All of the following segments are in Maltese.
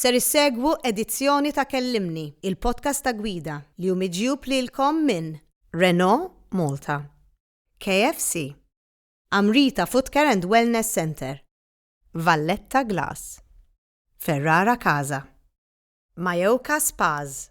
Ser issegwu edizzjoni ta' Kellimni, il-podcast ta' gwida li hu miġjub lilkom minn Renault Malta, KFC, Amrita Footcare and Wellness Centre, Valletta Glass, Ferrara Casa, Mayoka Spas,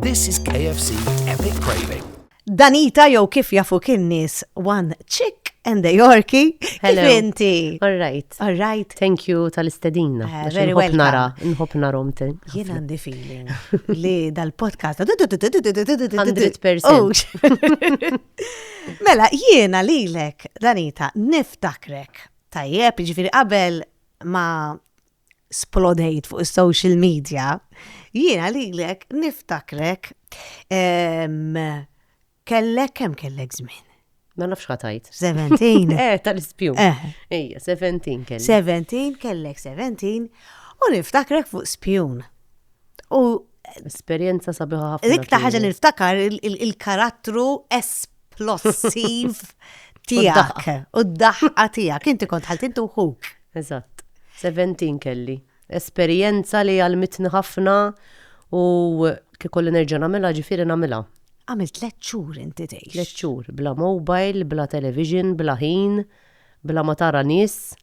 This is KFC Epic Craving. Danita jew kif jafu kien nies one chick and a Yorkie. Hello. Kif inti? All right. All right. Thank you tal-istedina. Uh, eh, very well. Nara, nħob narom te. Jien għandi feeling li dal-podcast. 100%. Oh. Mela, jiena lilek, Danita, niftakrek. Tajjeb, ġifiri qabel ma splodejt fuq is-social media, jiena lilek niftakrek kellek kemm kellek żmien? Ma nafx ħatajt. 17. Eh, tal-ispju. Eh. Ejja, 17 kellek. 17 kellek 17 u niftakrek fuq spjun. U esperjenza sabiħa ħafna. Dik ta' ħaġa niftakar il-karattru esplossiv tiegħek u d-daħqa tiegħek. Inti kont ħaltintu ħuk. Eżatt. Seventeen kelli. Esperjenza li għallmitni ħafna u kif ikolli nerġa' nagħmilha ġifieri nagħmilha. Għamilt tliet xhur inti tgħix. Tliet xhur, bla mobile, bla television, bla ħin, bla ma tara nies.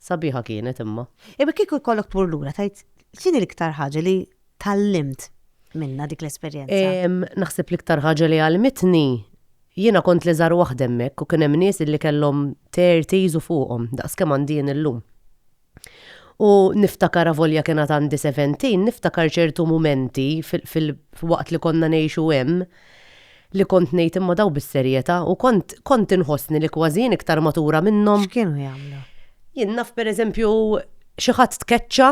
Sabiħa kienet imma. Imma kieku jkollok tmur lura tgħid x'inhi l-iktar ħaġa li tgħallimt minnha dik l-esperjenza? Naħseb l-iktar ħaġa li għallmitni jiena kont l-iżgħar waħda hemmhekk u kien hemm nies li kellhom thirties u fuqhom daqs kemm għandi jien illum. U niftakar avolja kien għad għandi seventeen, niftakar ċertu mumenti fil-waqt li konna ngħixu hemm Li kont ngħid imma dawn bis-serjetà u kont kont inħossni li kważi jien iktar matura minnhom. X'kienu jagħmlu? Jien naf pereżempju xi ħadd tkeċċa,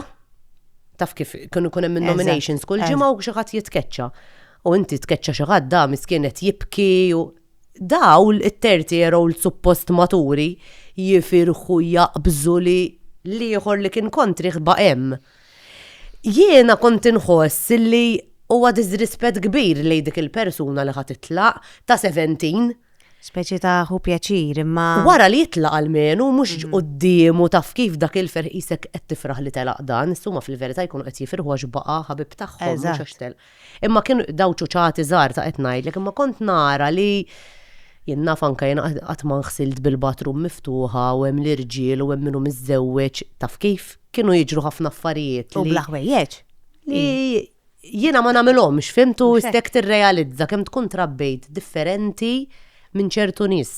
taf kif kienu jkun hemm in-nominations kull ġimgħa u xi ħadd jitkeċċa. U inti tkeċċa xi ħadd da miskien qed jibki u dawl it-thirty year old suppost maturi jifirħu jaqbżu li l-ieħor li kien kontrih baqa' hemm. Jiena kont inħoss li huwa diżrispett kbir lejn dik il-persuna li ħa titlaq, ta' seventeen. Speċi ta' ħu pjaċir, imma. Wara li jitlaq almenu mhux quddiemu taf kif dak il-ferħ qisek qed tifraħ li telaq dan, issa huma fil-verità jkunu qed jifirħu għax baqa' ħabib tagħhom mhux għax telaq. Imma kien daw ċuċati żgħar ta' qed ngħidlek, imma kont nara li jien naf anke jien qatt ma nħsilt bil-bathroom miftuħa u hemm l-irġiel u hemm min hu miżżewweġ, taf kif? Kienu jiġru ħafna affarijiet li. U bla ħwejjeġ. Li jiena ma nagħmilhomx, fimt u stek tirrealizza kemm tkun trabbejt differenti minn ċertu nies.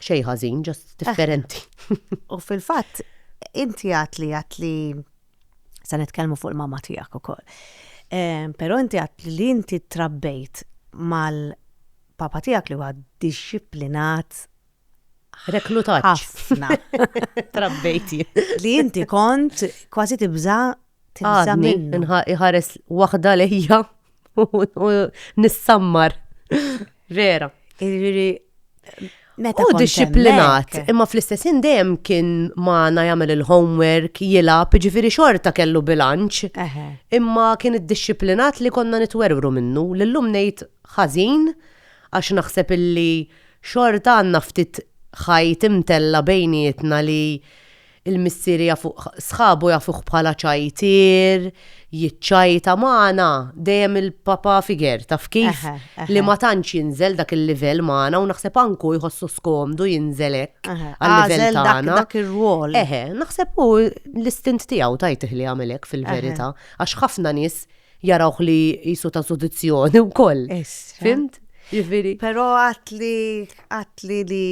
Xej ħażin, ġast differenti. U fil-fatt, inti għat li għat li sa nitkellmu fuq il-mama tiegħek ukoll. Ehm, però inti għat li inti trabbejt mal-papa tiegħek li huwa disciplinat reklutat ħafna. Trabbejti. Li inti kont kważi tibża Għadni iħares waħda lejja u nissammar. Vera. Irri, meta. U disciplinat, imma fl-istessin dejjem kien maħna jagħmel il-homework, jilab, ġifiri xorta kellu bilanċ. Imma kien id-disciplinat li konna nitwerwru minnu, l-lum nejt ħażin, għax naħseb illi xorta għanna ftit ħajt imtella bejnietna li Il-missier jafuh, sħabu jafuh bħala ċajtier, jiċċajta, ma għana, dejjem il-papa figure, taf kif? Li ma tantx jinżel dak il-livell ma għana u naħseb anke hu jħossu skomdu jinżel hekk għall-livell ta' għana. Dak ir-rwol. Eħe, naħseb hu l-istint tiegħu tajtih li jagħmel hekk fil-verità, għax ħafna nies jarawh li jisu ta' sudizzjoni wkoll. Fimt? Ġifieri. Però għatli, għatli li,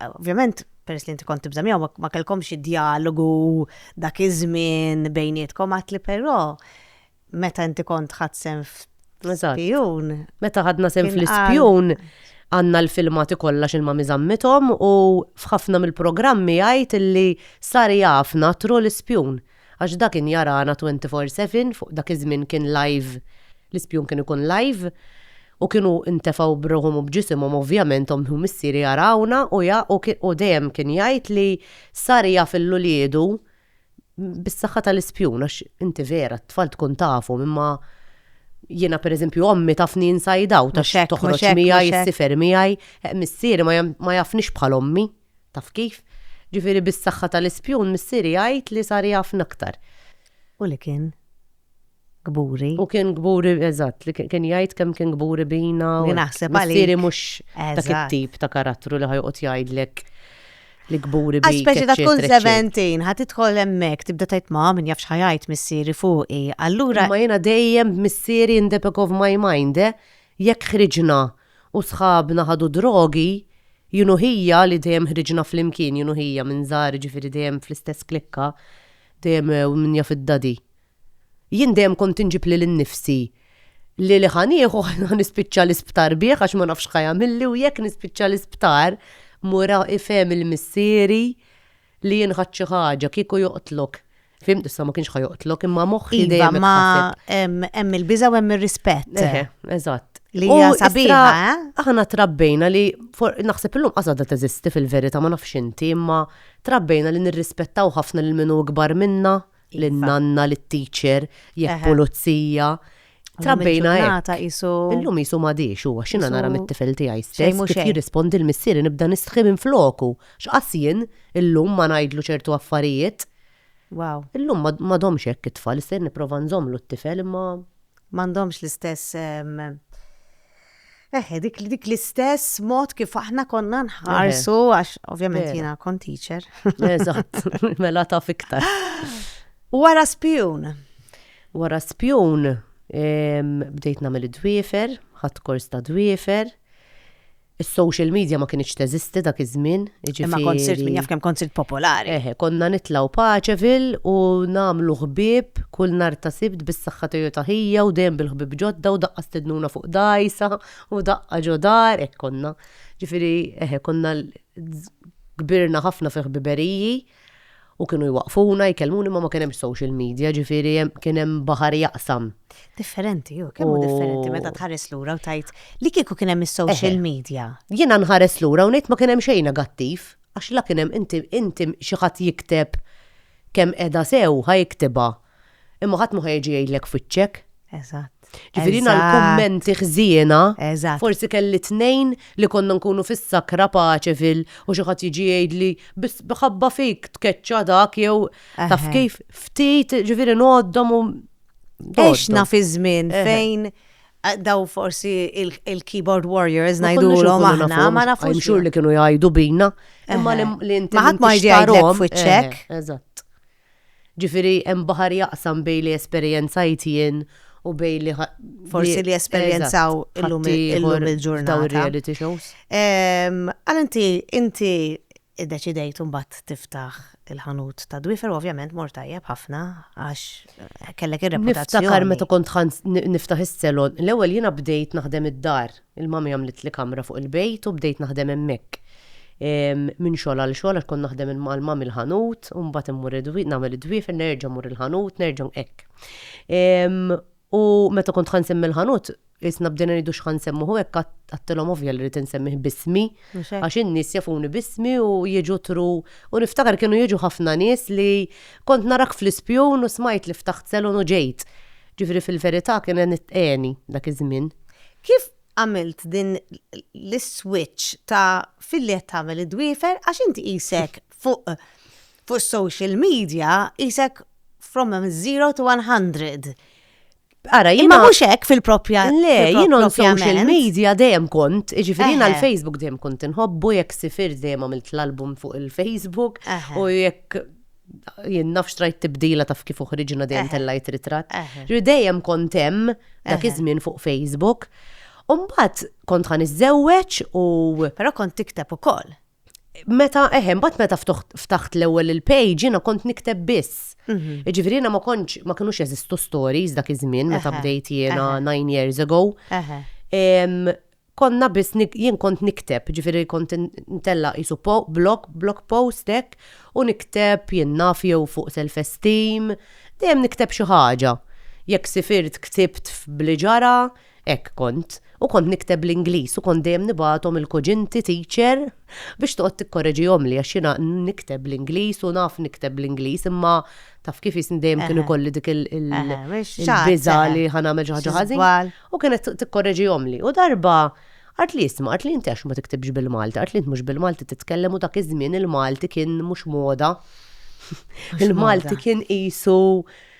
ovvjament, peress li inti kont tibża' miegħu ma- ma kellkomx id-djalogu dak iż-żmien bejnietkom, għad li però meta inti kont ħadt sehem f', Eżatt. f'spjun. Meta ħadna sehem Kien qal- fl-ispjun għandna l-filmati kollha x'ilma mi żammithom u f'ħafna mill-programmi jgħid illi sar jafna through l-ispjun. għax da kien jarana 'twenty four seven' fuq dak iż-żmien kien live l-ispjun kien ikun live u kienu ntefgħu b'ruħhom u b'ġisimhom ovvjament omm u missieri jarawna u ja u kien u dejjem kien jgħid li sar jaf il uliedu bis-saħħa tal-ispjun għax inti vera t-tfal tkun tafhom imma jiena per eżempju ommi tafni inside out għax toħroġ miegħi issifer miegħi missieri ma jafnix bħal ommi. Taf kif? Ġifieri bis-saħħa tal-ispjun missieri jgħid li sar jafna aktar. U li kien kburi. U kien kburi, eżatt, li kien jgħid kemm kien kburi bina. Li naħseb għalik. Missieri mhux dak it-tip ta' karattru li ħajqgħod jgħidlek li kburi bi. Speċi ta' tkun 17, ħat idħol hemmhekk tibda tajt ma' min jafx ħajajt missieri fuqi. Allura. Ma jiena dejjem missieri in the back of my mind, eh? jekk ħriġna U sħabna ħadu drogi, jien u ħija li dejjem ħriġna flimkien, jien u ħija minn żgħar jiġifieri dejjem fl-istess klikka, dejjem u min jaf id-daddy. Jien dejjem kont inġib lil innifsi li li ħa nieħu ħa nispiċċa l-isptar bih għax ma nafx x'ħa jagħmilli u jekk nispiċċa l-isptar mur ifhem il-missieri li jien ħadt xi ħaġa, kieku joqtlok. Fim tista' ma kienx ħajoqtlok imma moħħi iva, dejjem. ma hemm il-biża u hemm ir-rispett. Eżatt. Li hija sabiħa. Eh? Aħna trabbejna li naħseb illum qasada teżisti fil-verità ma nafx inti imma trabbejna li nirrispettaw ħafna lil minu ikbar minna, iva. lil nanna, lit teacher, jekk pulizija. Trabbejna hekk. Illum jisu ma diex huwa x'inha nara mit-tifel tiegħi stess kif jirrispondi l-missieri nibda nistħi minn floku. X'qas jien illum ma ngħidlu ċertu affarijiet. Wow. Illum ma għadhomx hekk it-tfal, issa jien nipprova nżommlu t-tifel imma. M'għandhomx l-istess eħe dik dik l-istess mod kif aħna konna nħarsu għax ovvjament jiena kont teacher. Eżatt, mela taf iktar. Wara spjun. Wara spjun bdejt nagħmel id-dwiefer, ħadd kors ta' dwiefer. Is-social media ma kinitx teżisti dak iż-żmien, jiġifieri. Imma kont sirt min jaf kemm kont sirt popolari. Eħe, konna nitlgħu Paceville u nagħmlu ħbieb kull nhar ta' Sibt bis-saħħa tiegħu ta' ħija u dejjem bil-ħbieb ġodda u daqqa stednuna fuq dgħajsa u daqqa ġo dar, hekk konna. Jiġifieri, eħe, konna kbirna ħafna fi ħbiberiji. u kienu jwaqfuna, jkellmuni ma ma kien hemm social media, ġifieri kien hemm baħar jaqsam. Differenti, u kemm differenti meta tħares lura u tajt li kieku kien hemm is-social media. Jiena nħares lura u ngħid ma kien hemm xejn negattiv, għax la kien hemm inti inti xi ħadd jikteb kemm qiegħda sew ħa jiktibha, Imma ħadd ma ħajġi jgħidlek f'wiċċek. Eżatt. Ġifieri jiena l-kummenti ħżiena. Eżatt. Forsi kelli tnejn li konna nkunu fis-sakra paċe fil u xi ħadd jiġi jgħidli biss ħabba fik tkeċċa dak jew taf kif ftit ġifieri ngħoddhom u Għax naf iż-żmien fejn daw forsi il-keyboard warriors ngħidulhom aħna ma nafux. Xhur li kienu jgħidu bina. Imma li inti. Ma ħadd ma jgħidlek f'wiċċek. Eżatt. Ġifieri hemm baħar jaqsam bejn li esperjenzajt jien u bejn li ħa-. Forsi li esperjenzaw illum il-ġurnata. Dawn ir-reality shows. Għal inti, inti iddeċidejt imbagħad tiftaħ il-ħanut ta' dwifer, ovvjament mor tajjeb ħafna għax kellek ir-reputazzjoni. Niftakar meta kont niftaħ is-selon, l-ewwel jiena bdejt naħdem id-dar. Il-mommy għamlitli kamra fuq il-bejt u bdejt naħdem hemmhekk. Minn xogħol għal xogħol għax kont naħdem mal mommy l-ħanut u mbagħad immur nagħmel id-dwiefer nerġa' mmur il-ħanut nerġa' hekk. U meta kont ħa nsemmi l-ħanut isna bdejna ngħidu x'ħa nsemmuh u hekk għadtilhom ovvja li rrid insemmih b'ismi għax in-nies jafuni b'ismi u jiġu tru u niftakar kienu jiġu ħafna nies li kont narak fl-ispjun u smajt li ftaħt salon u ġejt. Ġifieri fil-verità kien qed għeni dak iż-żmien. Kif għamilt din l-switch ta' filli qed tagħmel id-dwiefer għax inti qisek fuq fuq is-social media qisek from a zero to one hundred. Ara jien. Imma mhux hekk fil-propja. Le, jien on social media dejjem kont, jiġifieri jiena l-Facebook dejjem kont inħobbu jekk sifirt dejjem għamilt l-album fuq il-Facebook u jekk jien nafx trajt tibdila taf kif uħriġna dejjem tellajt ritratt. Ġri dejjem kont hemm dak iż-żmien fuq Facebook. Umbat kont ħan iżżewweġ u. Però kont tikteb ukoll. Meta eħem, bat meta ftaħt l-ewwel il-page jiena kont nikteb biss. Mhm. Ġifieri ma kontx ma kinux jeżistu stories dak iż-żmien meta bdejt jiena nine years ago. konna biss nik, jien kont nikteb, ġifieri kont in, intella' qisu po, blog, blog post hekk, u nikteb, jien naf, jew fuq self-esteem, dejjem nikteb xi ħaġa. Jekk sifirt ktibt f' b'li ġara, hekk kont. U kont nikteb bl-Ingliż u kont dejjem nibgħathom il-kuġinti, teacher, biex toqgħod tikkoreġihomli għax jiena n, nikteb bl-Ingliż u naf nikteb bl-Ingliż imma taf kif jisni dejjem kien Eħe. ikolli dik il, il, Eħe, xi ħadd, il-biża' eħe. li ħa nagħmel xi ħaġa Xi ħażin. żball. U kienet tikkorreġihomli. U darba qalt li isma' qalt li inti għax ma tiktibx bil-Malti, qalt li int mhux bil-Malti titkellem u dak iż-żmien il-Malti kien mhux moda. Il-Malti kien qisu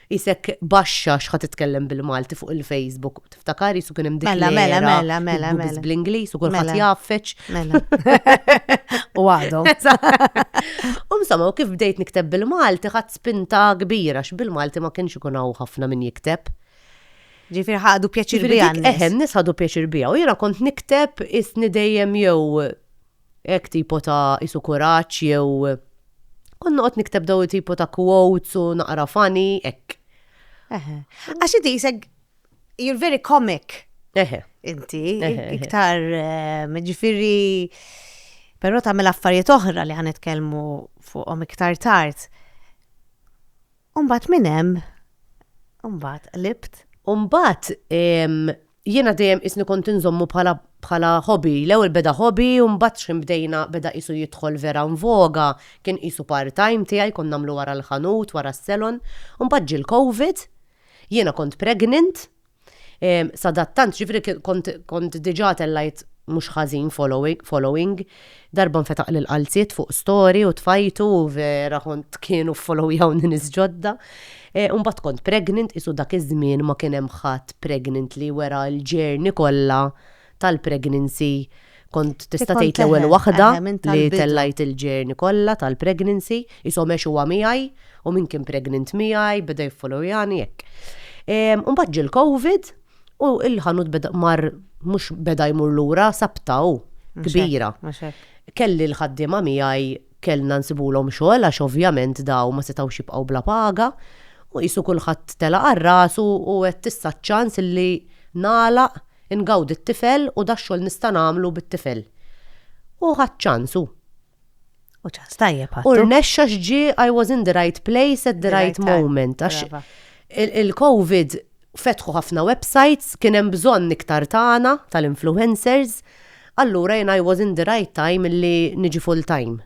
qisek baxxa x'ħa titkellem bil-Malti fuq il-Facebook. Tiftakar qisu kien hemm dik Mela, mela, l-era mela, mela, li mela. bl-Ingliż u kulħadd Mela. jgħaffeġ. Mela. U għadhom. U insomma, u kif bdejt nikteb bil-Malti ħadd spinta kbira x'bil-Malti ma kienx ikun hawn ħafna min jikteb. Ġifieri ħadu pjaċir biha. Ġifieri eħen nies ħadu pjaċir biha u jiena kont nikteb isni dejjem jew hekk tipo ta' isu kuraġġ jew kont noqgħod nikteb daw tipo ta' quotes u naqra funny hekk. Għax inti jisek you're very comic. Eħe. Inti iktar eh, ġifieri però tagħmel affarijiet oħra li ħanitkellmu fuqhom iktar tard. U mbagħad minn hemm mbagħad qlibt. U mbagħad jiena dejjem isni kont inżommu bħala bħala hobby, l-ewwel beda hobby u mbagħad x'ħin bdejna beda qisu jidħol vera nvoga, kien qisu part-time tiegħi kont nagħmlu wara l-ħanut, wara s-salon. U mbagħad ġie l-Covid, jiena kont pregnant Sadattant, ġifri kont diġa tellajt mhux ħażin following. Darba nfetaq lil qalziet fuq story u tfajtu u vera kont kienu ffollowyawni nies ġodda. Imbagħad kont pregnant, qisu dak iż-żmien ma kien hemm ħadd pregnant li wera l-journey kollha tal-pregnancy kont tista' tgħid l-ewwel waħda li tellajt il-ġerni kollha tal-pregnancy, qishom għex huwa miegħi u min kien pregnant miegħi beda jiffollowyani hekk. Imbagħad ġie l-Covid u l-ħanut beda mar mhux beda jmur lura sabta hu kbira. Kelli l-ħaddiema miegħi kellna nsibulhom xogħol għax ovvjament daw ma setgħux jibqgħu bla paga u qisu kulħadd tela' għal rasu u għedt issa ċ-ċans li nagħlaq Ingawdi t-tifel u dax-xogħol nista' nagħmlu bit-tifel. U ħadt ċans hu. U ċans tajjeb ħadtu. U rnexxa għax ġie I was in the right place at the right moment. Għax il-COVID fetħu ħafna websites, kien hemm bżonn iktar tagħna tal-influencers, allura jien I was in the right time li niġi full time.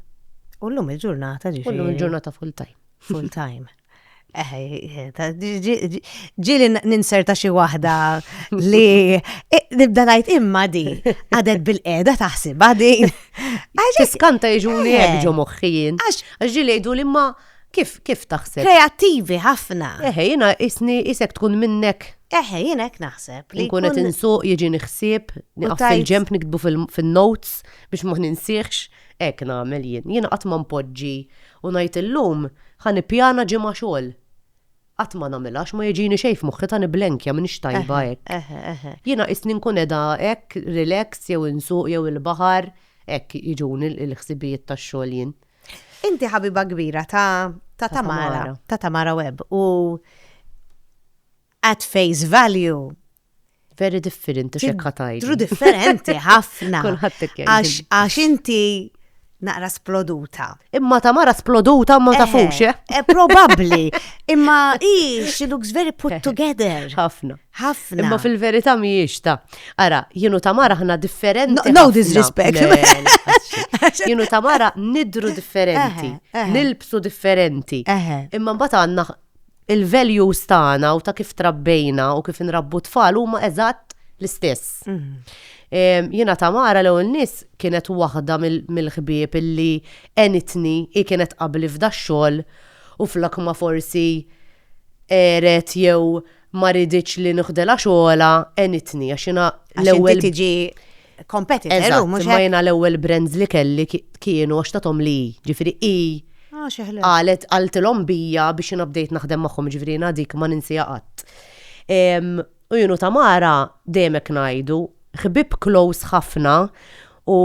U llum il-ġurnata ġifieri. U llum il-ġurnata full time. Full time. Ġili ninserta xi waħda li nibda ngħid imma di għadet bil-qeda taħsibha din. Għax kanta jiġuni ġo moħħijin. Għax ġili jgħidu li ma kif kif taħseb? Kreattivi ħafna. Eħe, jiena isni isek tkun minnek. Eħe, jiena hekk naħseb. Li nkun qed insuq jiġi nħsib, naqaf il-ġemp niktbu fil-notes biex ma ninsieħx. Hekk nagħmel jien. Jiena qatt ma npoġġi u ngħid illum ħa nippjana ġimgħa xogħol. Qatt ma nagħmilha għax ma jiġini xejn f'moħħi ta' nibblenkja m'iniex tajba hekk. Jiena qisni nkun qiegħda hekk relax jew insuq jew il-baħar, hekk jiġuni l-ħsibijiet tax-xogħol jien. Inti ħabiba kbira ta' Tamara, ta' Tamara Webb u at face value. Very differenti xek ħatajt. Tru differenti ħafna. Għax għax inti naqra sploduta. Imma ta' mara sploduta ma ta' fuxie. Eh, eh? eh, probabli. Imma i, she looks very put together. Ħafna. Ħafna. Imma fil-verita mi ta' Ara, jienu ta' mara ħna differenti. No, disrespect. Jienu ta' mara nidru differenti. Nilbsu differenti. Imma mbata għanna il-values tagħna u ta' kif trabbejna u kif inrabbu tfal huma eżatt l-istess. Mhm. Jiena Tamara l-ewwel nies kienet waħda mill-ħbieb illi enitni hi kienet qabli f'da xogħol u flok ma forsi eret jew ma riditx li nuħdilha xogħolha enitni għax jiena l-ewwel. Għax inti tiġi competitor. Eżatt, imma jena l-ewwel brands li kelli kienu għax tatom li, ġifiri i. Ah, xeħle. Għalet għaltilhom bija biex jina bdejt naħdem magħhom ġifiri jina dik ma ninsija qatt. U junu Tamara demek ngħidu, ħbib close ħafna u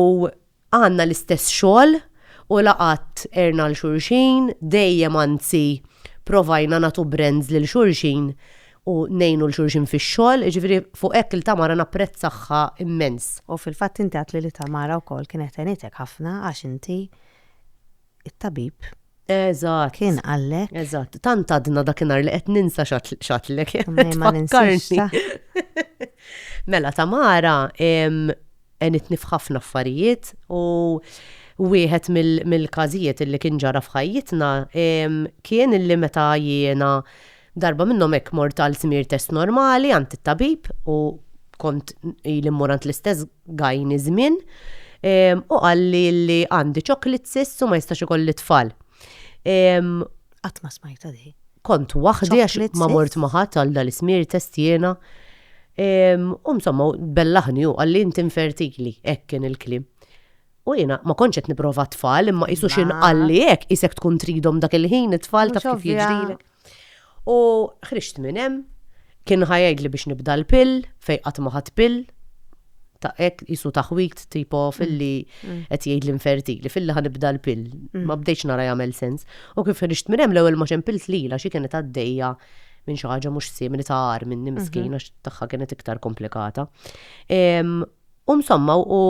għandna l-istess xogħol u laqat erna l-xulxin, dejjem anzi provajna nagħtu brands lil xulxin u ngħinu 'l xulxin fix-xogħol, jiġifieri fuq hekk il-Tamara napprezzahha immens. U fil-fatt inti għedtli li Tamara wkoll kienet għenitek ħafna għax inti it-tabib Eżatt. kien qallek. Eżatt, tant għadna dakinhar li qed ninsa x'għad- x'għadtlek. Mej ma ninsiex Tfakkarni. ta. Mela Tamara em, għenitni f'ħafna affarijiet u wieħed mill- mill-każijiet illi kien ġara f'ħajjitna em, kien illi meta jiena Darba minnhom hekk mort għal żmir test normali għand it-tabib u kont ili mmur għand l-istess gajni żmien u qalli li għandi chocolate cysts u ma jistax ikolli tfal. Qatt ma smajta di. Kont waħdi għax ma mort ma ħadd għal dal-ismir test jiena. U insomma bellaħni u qalli inti infertili, hekk kien il-kliem. U jiena ma kontx qed nipprova tfal imma qisu x'inqalli hekk isek tkun tridhom dak il-ħin it-tfal taf kif jiġrilek. U ħriġt minn hemm, kien ħa jgħidli biex nibda l-pill, fejn qatt ma ħadd pill, ta' hekk isu taħwit tipo mm. filli mm. qed jgħidli infertili, filli ħa nibda l-pill. Mm. Ma bdejtx nara jagħmel sens. U kif ħriġt minn hemm l-ewwel ma xempilt lila xi kienet għaddejja minn xi ħaġa mhux simili ta' għar minn mhm. miskina tagħha kienet iktar komplikata. U msomma u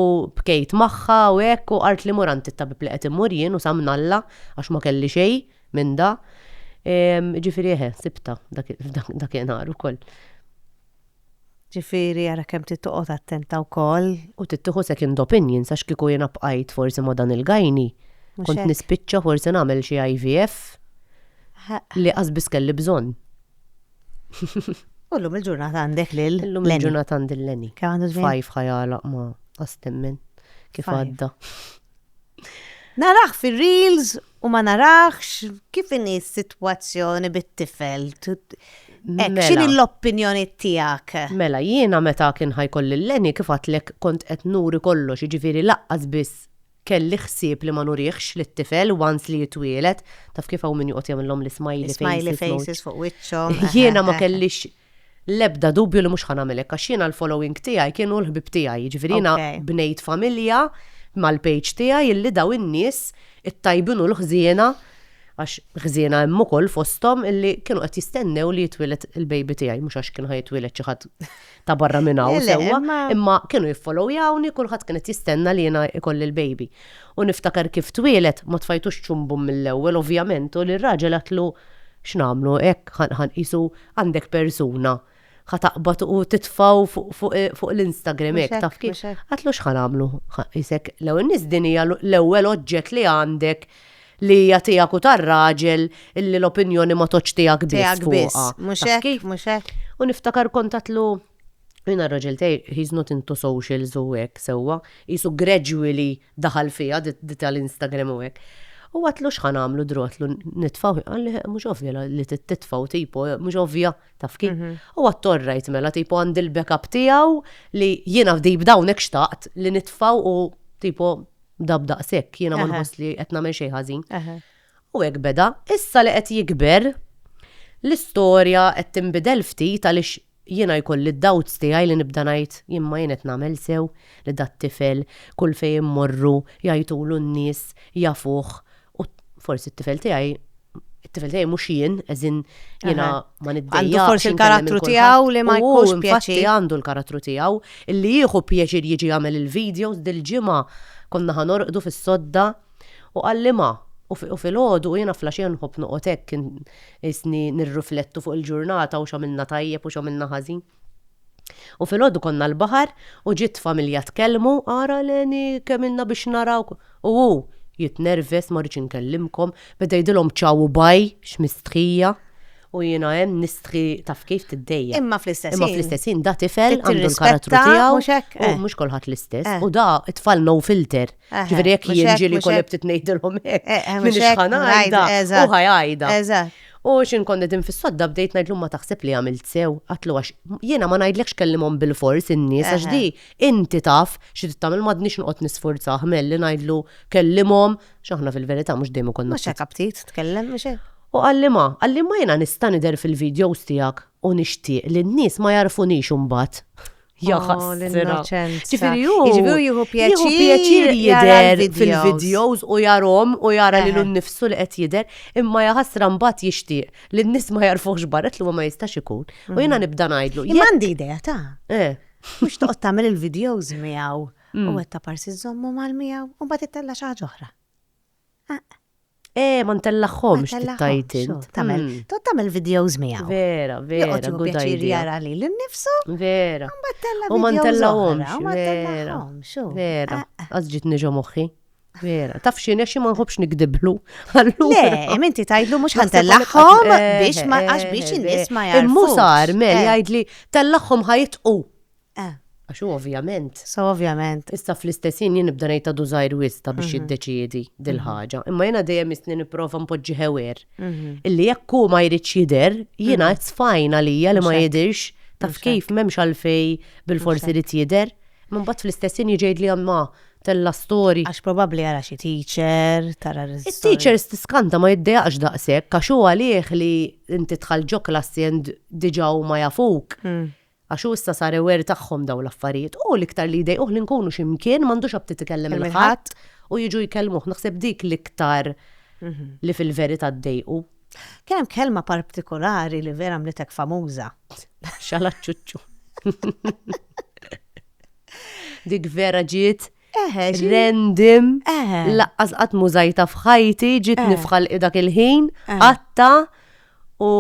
bkejt magħha u hekk u qart li muranti tabib li qed imur jien u samnalla għax ma kelli xejn minn da. Ġifieri eħe, sibtha dakinhar ukoll. Ġifieri ara kemm trid toqgħod attenta wkoll. U trid tieħu second opinion għax kieku jiena bqajt forsi ma' dan il-gynae, kont nispiċċa forsi nagħmel xi IVF li qas biss kelli bżonn. U llum il-ġurnata għandek lil Lenny. Illum il-ġurnata għandi lil Lenny. Kemm għandu żmien? Five ħa jagħlaq ma' qass temmen kif għadda. Naraħ fil-reels u ma naraħx kif inhi s-sitwazzjoni bit-tifel. Ek, mela. xini l-opinjoni tijak? Mela, jiena meta kien ħajkolli l-leni kif għatlek kont qed nuri kollox, ġifiri laqqas biss kelli ħsieb li ma nurihx li t-tifel once li jitwielet, taf kif hawn min joqgħod jagħmilhom l-smiley faces. Smiley faces fuq wiċċhom. Jiena ma kellix L-ebda dubju li mhux ħa nagħmel hekk għax jiena l-following tiegħi kien hu l-ħbieb tiegħi, jiġifieri jiena bnejt familja mal-page tiegħi illi dawn in-nies it-tajbin u l-ħżiena, għax ħżiena hemm ukoll fosthom, illi kienu qed jistennew li jitwieled il-baby tiegħi, mhux għax kien ħa jitwieled xi ħadd ta' barra minn hawn sewwa, imma kienu jiffollowyawni, kulħadd kien qed jistenna li jiena jkolli l-baby. U niftakar kif twieled ma tfajtux ċumbu mill-ewwel ovvjament u l-raġel għedtlu x'nagħmlu hekk ħa nqisu Għandek persuna, ħa taqbad u titfgħu fuq l-Instagram Mhux hekk, hekk, taf kif. mhux hekk. Għatlu x'ħa nagħmlu? Ħa qisek l-ewwel nies din hija l-ewwel oġġett li għandek li hija tiegħek u tar-raġel illi l-opinjoni ma tgħoddx tiegħek biss Tiegħek biss. fuqha. Mhux Taf hekk, kif? mhux hekk. U niftakar kont għatlu jiena r-raġel tiegħi he's not into socials u hekk sewwa, qisu gradually Daħal fiha, di tal-Instagram u hekk. U għadtlu x'ħa nagħmlu drotlu nitfgħu, qalli mhux ovvja li titfgħu tipo, mhux ovvja taf kif. Mhm. U għattorrajt mela tipo għandi l-backup tiegħu li jiena fdi b'dawnek xtaqt li nitfgħu u tipo dab daqshekk jiena ma nħoss li qed nagħmel xejn ħażin. U hekk beda, issa li qed jikber l-istorja qed tinbidel ftit għaliex Jiena jkolli d-doubts tiegħi li nibda ngħid imma jien qed nagħmel sew li dat-tifel kull fejn immorru jgħajtulu n-nies jafuh u forsi t-tifel tiegħi it-tifel tiegħi mhux jien as in jiena ma niddejjaqx. Għandu forsi l-karattru tiegħu li ma jkunx pjaċir. Hu għandu l-karattru tiegħu li jieħu pjaċir jiġi jagħmel il-videos dil-ġimgħa konna ħanorqdu fis-sodda U qal liema? U filgħodu u jiena fl-għaxija nħobb noqgħod hekk isni nirriflettu fuq il-ġurnata u x'għamilna tajjeb u x'għamilna ħażin. U filgħodu konna l-baħar u ġiet familja tkellmu, ara Leni kemm ilna biex narawk u hu jitnerves ma rridx inkellimkom, beda jgħidilhom ciao u bye, x'mistħija. U jiena hemm nistħi taf kif tiddejjaq. Imma fl-istess Imma ħin. fl-istess ħin da tifel Trid għandu l-karattru tirrispetta, tiegħu. mhux hekk? U Eh. mhux kulħadd l-istess. Eh. U da tfal no filter. Eh, Ġifieri jekk mhux hekk, jinġieli mhux jkun hekk. ftit ngħidilhom Eh, hekk. eh, Min mhux hekk, ixħan ngħid, għajda eżatt. u ħajgħida. Eżatt. U xin konna din fis-sodda bdejt ngħidlu ma taħseb li għamilt sew, għatlu għax jiena ma ngħidlekx kellimhom bil-fors in-nies għax Eħe. di inti taf xi tagħmel m'għadniex noqgħod nisfurza ħmel li ngħidlu kellimhom X'aħna fil-verità mhux dejjem ikollna. Mhux hekk aptit tkellem mhux hekk. U qalli ma, qalli ma jiena nista' nidher fil-videos tiegħek u nixtieq li n-nies ma jagħrfunix imbagħad. Jaħas. Ġifieri hu. Ġifieri jieħu pjaċir jidher fil-videos u jarhom u jara li l-nifsu li qed jidher imma jaħasra mbagħad jixtieq li n-nies ma jagħrfuhx barret li ma jistax ikun. U jiena nibda ngħidlu. Jien għandi idea ta'. Eh. Mhux toqgħod tagħmel il-videos miegħu. u għedt ta' parsi żżommhom għal miegħu u mbagħad ittella' xi ħaġa oħra. Eh, ma ntellaħħomx tittajt int. Tagħmel, hmm. tot tagħmel videos miegħu. Vera, vera. Joqgħod jieħu pjaċir jara li l-nifsu. Vera. Mbagħad tella' U ma ntellahomx. Ma ntellahomx. Vera. Ah, ah. Għaż ġiet niġu moħħi. Vera, taf xin, għaxi ma nħobx nikdiblu. Le, minti tajdlu mux ħan tellaħħom eh, biex ma eh, għax biex eh, in-nis ma jarfu. Immu sar, mel jgħidli tellaħħom ħajtqu. Eh. Għax hu ovvjament. So ovvjament. Issa fl-istess ħin jien nibda ngħid għadu żgħir wisq ta' biex jiddeċiedi dil-ħaġa. Imma jiena dejjem isni nipprova npoġġi ħewir. Illi jekk hu ma jridx jidher, jiena it's fine għalija li ma jidhirx, taf kif m'hemmx għalfej bilfors irid jidher. Imma mbagħad fl-istess ħin jiġi jgħidli imma tella' story. Għax probabbli jara xi teacher, tara r-story. It-teachers tiskanta ma jiddejaqx daqshekk għax hu għalih li inti tħall ġo klassi and diġà huma jafuk. Għax hu issa sar aware tagħhom dawn l-affarijiet. Hu l-iktar li jdejquh li nkunu xi mkien m'għandux aptit ikellem lil ħadd u jiġu jkellmuh. Naħseb dik l-iktar li fil-verità ddejqu. Kien hemm kelma partikolari li vera għamlitek famuża. Xalaċċuċċu. Dik vera ġiet Random, laqqas qatt m'użajtha f'ħajti, ġietni f'ħalqi dak il-ħin, għadtha u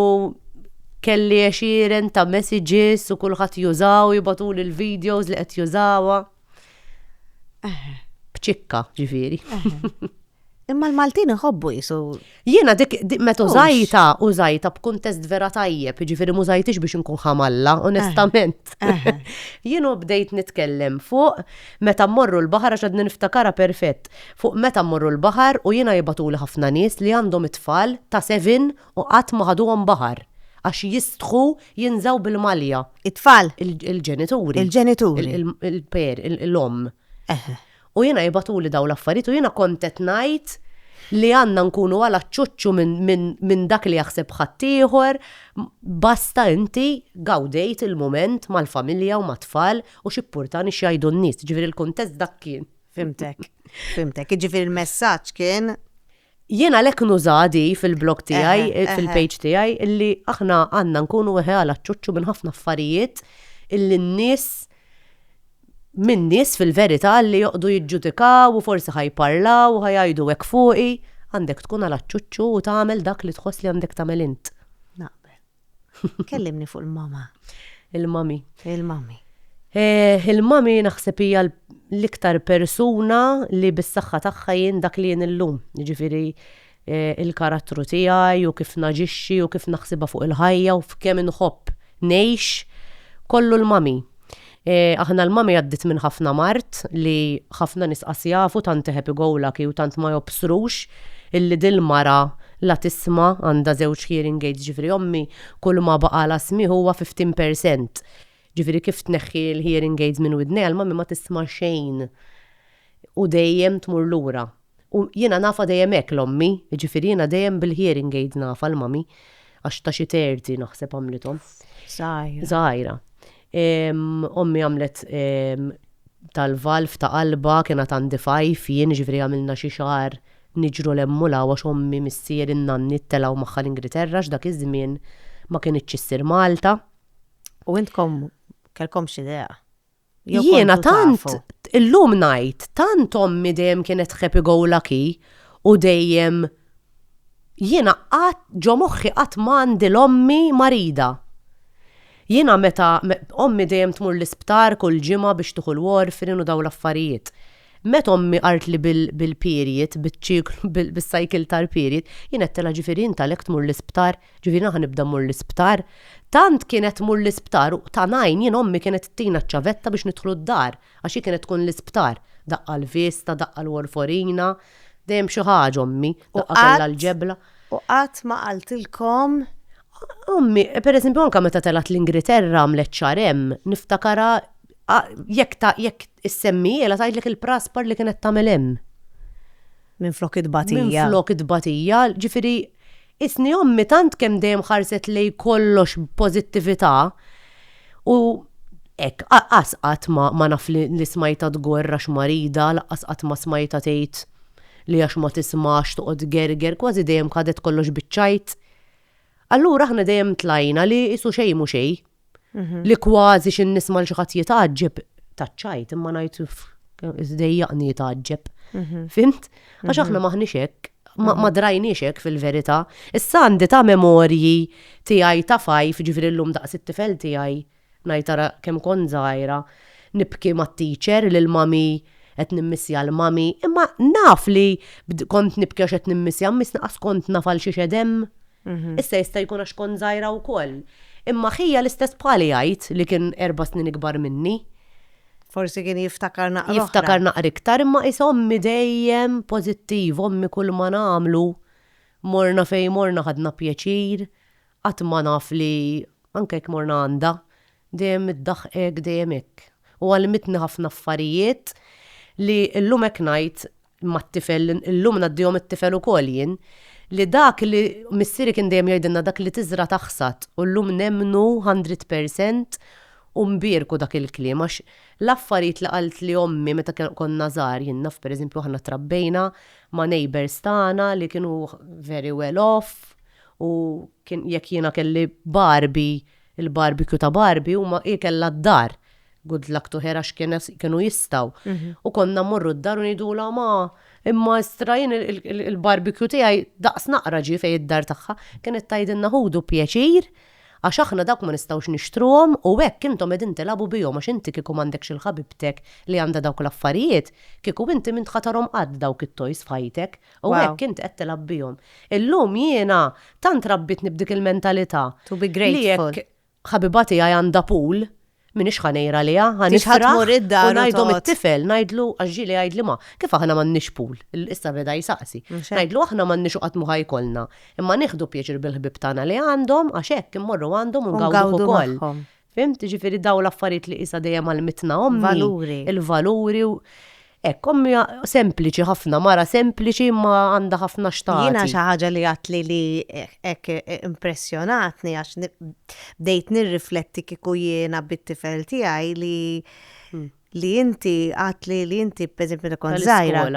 kelli għexieren ta' messages u kulħadd jużaha u jibgħatuli l-videos li qed jużawha. B'ċikka, ġifieri. Imma l-Maltin iħobbu jisu. Jiena dik meta użajta, użajta b'kuntest vera tajjeb, ġifieri mużajtix biex inkun ħamalla, eh, onestament. Eh. Jienu bdejt nitkellem fuq meta mmorru l-baħar għax għadni niftakara perfett. Fuq meta mmorru l-baħar u jiena jibatuli ħafna nies li għandhom it-tfal ta' sevin u qatt ma ħaduhom baħar għax jistħu jinżaw bil-malja. It-tfal? Il-ġenituri. Il-ġenituri. Il-per, il-om. U jiena jibgħatuli dawn l-affarijiet u jiena kont qed ngħid li għandna nkunu għal aċċuċċu minn dak li jaħseb ħaddieħor, basta inti gawdejt il-mument mal-familja u mat-tfal u x'ippurtani x'jgħidu n-nies, jiġifieri l-kuntest dak kien. Fhimtek, fhimtek. Jiġifieri l-messaġġ kien Jien għalhekk nuża di fil-blog tiegħi, fil-page tiegħi, illi aħna għandna nkunu weħela ċċuċċu minn ħafna affarijiet illi n-nies minn nies fil-verità li joqogħdu jiġġudikaw u forsi ħa jparlaw u ħa jgħidu hekk fuqi, għandek tkun għela ċċuċċu u tagħmel dak li tħoss li għandek tagħmel int. Kellimni fuq il-mama. Il-mami. Il-mami. Eh, il-mami naħseb hija l-iktar persuna li bis-saħħa tagħha jien dak li jien illum. Jiġifieri eh, il-karattru tiegħi u kif naġixxi u kif naħsibha fuq il-ħajja u f'kemm inħobb ngħix kollu l-mami. Aħna l-mami għaddiet minn ħafna mard li ħafna nies qas jafu tant iħeb igowlaki u tant ma jobsrux illi dil mara la tisma għandha żewġ hearing aids ġifieri ommi kull ma baqala smigħ huwa fifteen percent ġifieri kif tneħħi l hearing aids minn widnejha l-mami ma tisma xejn u dejjem tmur lura. U jiena nafha dejjem hekk l-ommi, jiġifieri jiena dejjem bil-hearing aid nafha l-mommy, għax ta' xi terti naħseb għamlithom. Żgħira. Żgħira. Ommi għamlet tal-valv ta' qalbha kienet għandi fajf jien jiġifieri għamilna xi xahar niġru 'l hemm u 'l hawn għax ommi, missieri, n-nanni telgħu magħha l-Ingriterra għax dak iż-żmien ma kinitx issir Malta. U intkom kellkomx idea? Jiena tant illum ngħid tant ommi dejjem kienet happy go lucky u dejjem jiena qatt ġo moħħi qatt m'għandi l-ommi marida. Jiena meta ommi dejjem tmur l-isptar kull ġimgħa biex tieħu l-warfrin u dawn l-affarijiet. Meta ommi qartli bil-period, biċ-ċiklu, bis-cycle tal-period, jien għedtilha ġifieri int għalhekk tmur l-isptar Ġifieri naħa nibda mmur l-isptar. Tant kienet tmur l-isptar u ta' ngħin jien ommi kienet ttina ċ-ċavetta biex nidħlu d-dar għax hi kienet tkun l-isptar. Daqqa l-vista, daqqa l-warforina, dejjem b'xi ħaġa ommi. Daqqa kellha l-ġebla. U qatt ma qaltilkom? Ommi, per eżempju anke meta telgħet l-Ingriterra għamlet xahar hemm, niftakarha jekk issemmiehielha tgħidlek il-praspar li kienet tagħmel hemm. Minflok it-tbatija. Minflok it-tbatija, ġifieri qisni ommi tant kemm dejjem ħarset lejn kollox b'pożittività u hekk, qas qatt ma ma naf li li smajtha tgorr għax marida, lanqas qatt ma smajtha tgħid li għax ma tismax toqgħod tgerger, kważi dejjem ħadet kollox biċ-ċajt. Allura aħna dejjem tlajna li isu xejn mhu xejn. li kważi xi nisma' l xi ħadd jitgħaġġeb taċċajt imma ngħid iżdejjaqni jitgħaġġeb. Mhm. Fimt? Għax mhm. aħna maħniex hekk, ma mhm. drajniex hekk fil-verità. Issa għandi ta' memorji tiegħi ta' fajf, ġifieri llum daqs it-tifel tiegħi ngħid ara kemm kon żgħira, nibki mat-teacher lil mami qed nimmissja l-mami, imma naf li kont nibki għax qed nimmissja, miss naqas kont nafal xi xedem Issa jista' jkun għax kont żgħira wkoll. Imma ħija l-istess bħali jgħid li kien erba' snin ikbar minni. Forsi kien jiftakar naqra. Jiftakar naqra iktar imma qis ommi dejjem pożittiva, ommi kull ma nagħmlu morna fejn morna ħadna pjaċir, qatt ma naf li anke jekk morna għandha, dejjem iddaħqek, dejjem hekk. U għallmitni ħafna affarijiet li llum hekk ngħid Imma t-tifel, illum ngħaddihom it-tifel ukoll jien, li dak li missieri kien dejjem jgħidilna dak li tiżra' taħsad u llum nemmnu hundred percent u nbierku dak il-kliem għax l-affarijiet li qaltli ommi meta konna żgħar jien naf pereżempju aħna trabbejna ma' neighbours tagħna li kienu very well off u kien jekk jiena kelli Barbie Il-barbecue ta' Barbie huma ikel lad-dar. Good luck to her għax kienu jistgħu. U konna mmorru d-dar u ngħidulha ma imma istra jien il-barbecue tiegħi daqs naqra ġie fejn id-dar tagħha. Kienet tgħidilna ħudu pjaċir għax aħna dawk ma nistgħux nixtruhom u hekk intom qegħdin tilagħbu bihom għax inti kieku m'għandekx il-ħabibtek li għandha dawk l-affarijiet, kieku inti m'int ħa tarhom qatt dawk it-toys f'ħajtek. U hekk int qed tilgħab bihom. Illum jiena tant rabbitni b'dik il-mentalità. To be grateful. Li jekk ħabiba tiegħi għandha pool, m'iniex ħa ngħir għaliha, ħa nifraħ u ngħidhom it-tifel, ngħidlu, għax ġieli jgħidli ma, kif aħna m'għandniex pool? Issa beda jsaqsi. Ngħidlu aħna m'għandniex u qatt mhu ħa jkollna. Imma nieħdu pjaċir bil-ħbieb tagħna li għandhom għax hekk immorru għandhom u ngawduh ukoll. Fhimt? Jiġifieri dawn l-affarijiet li qisha dejjem għallmitna ommi. Valuri. Il-valuri u hekk ommi sempliċi ħafna, mara sempliċi ma għandha ħafna xtaqi. Jiena xi ħaġa li għatli li hekk impressjonatni għax bdejt nirrifletti kieku jiena bit-tifel tiegħi li hmm. li inti għatli li inti pereżempju li kont żgħira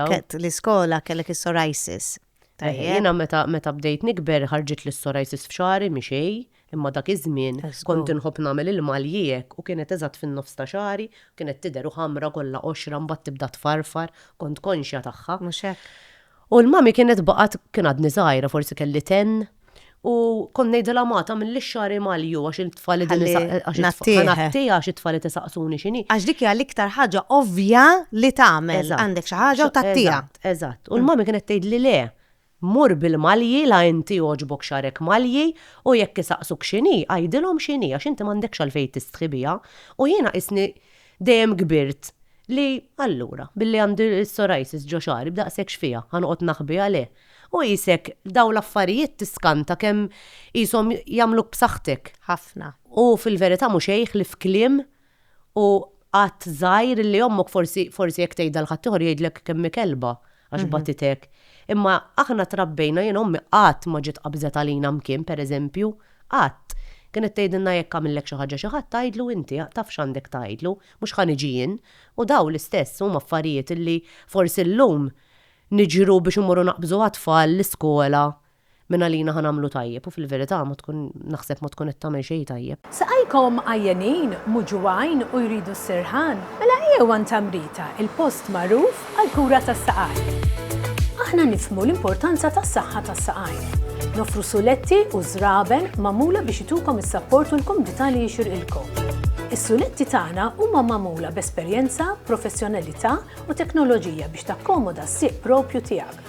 l-iskola kellek is-psoriasis. Tajjeb. Jiena meta meta bdejt nikber ħarġit li s-psoriasis f'xagħri mi xej, imma dak iż-żmien kont inħobb nagħmel il-maljieq u kienet eżatt fin-nofs ta' xagħri, kienet tidher u ħamra kollha qoxra mbagħad tibda tfarfar, kont konxja tagħha. Mhux hekk? U l-mummy kienet baqgħet, kien għadni żgħira forsi kelli ten, U kon nejdela ma ta' mill xari malju għax il-tfali din għattija għax it-tfali tisaqsuni xini. Għax dik hija l-iktar ħaġa ovvja li tagħmel għandek xi ħaġa u tattija. Eżatt. U l-mami kienet tgħid li le, mur bil-malji la inti għoġbok xarek malji u jekk isaqsuk xini, għidilhom xini għax inti m'għandekx għalfejn tistħi biha. U jiena qisni dejjem kbirt Li, allura, billi għandi s-psoriasis ġo xagħri b'daqshekk x'fiha, ħa noqgħod naħbiha le? U qisek dawn l-affarijiet tiskanta kemm qishom jagħmluk b'saħħtek. Ħafna. U fil-verità mhu xejn ħlief kliem u għadd żgħir li ommok forsi, forsi jekk tgħidha 'l ħaddieħor jgħidlek kemm hi kelba. għax bagħtitek. Imma aħna trabbejna, jien ommi qatt ma ġiet qabżet għalina mkien, pereżempju, qatt. Kienet tgħidilna jekk għamillek xi ħaġa xi ħadd tgħidlu inti, taf x'għandek tgħidlu, mhux ħa niġi jien. U dawn l-istess huma affarijiet li forsi llum niġru biex immorru naqbżu għat-tfal l-iskola Minn għalina ħa nagħmlu tajjeb u fil-verità ma tkun naħseb ma tkun qed tagħmel xejn tajjeb. Saqajkom għajjenin, muġugħin u jridu s-sirħan? Mela ejjew għand Tamrita, il-post magħruf għall-kura tas-saqajn. Aħna nifhmu l-importanza tas-saħħa tas-saqajn. Noffru suletti u żraben magħmula biex itukom is-sapport u l-kumdità li jixirqilkom. Is-suletti tagħna huma magħmula b'esperjenza, professjonalità u teknoloġija biex takkomoda s-sieq proprju tiegħek.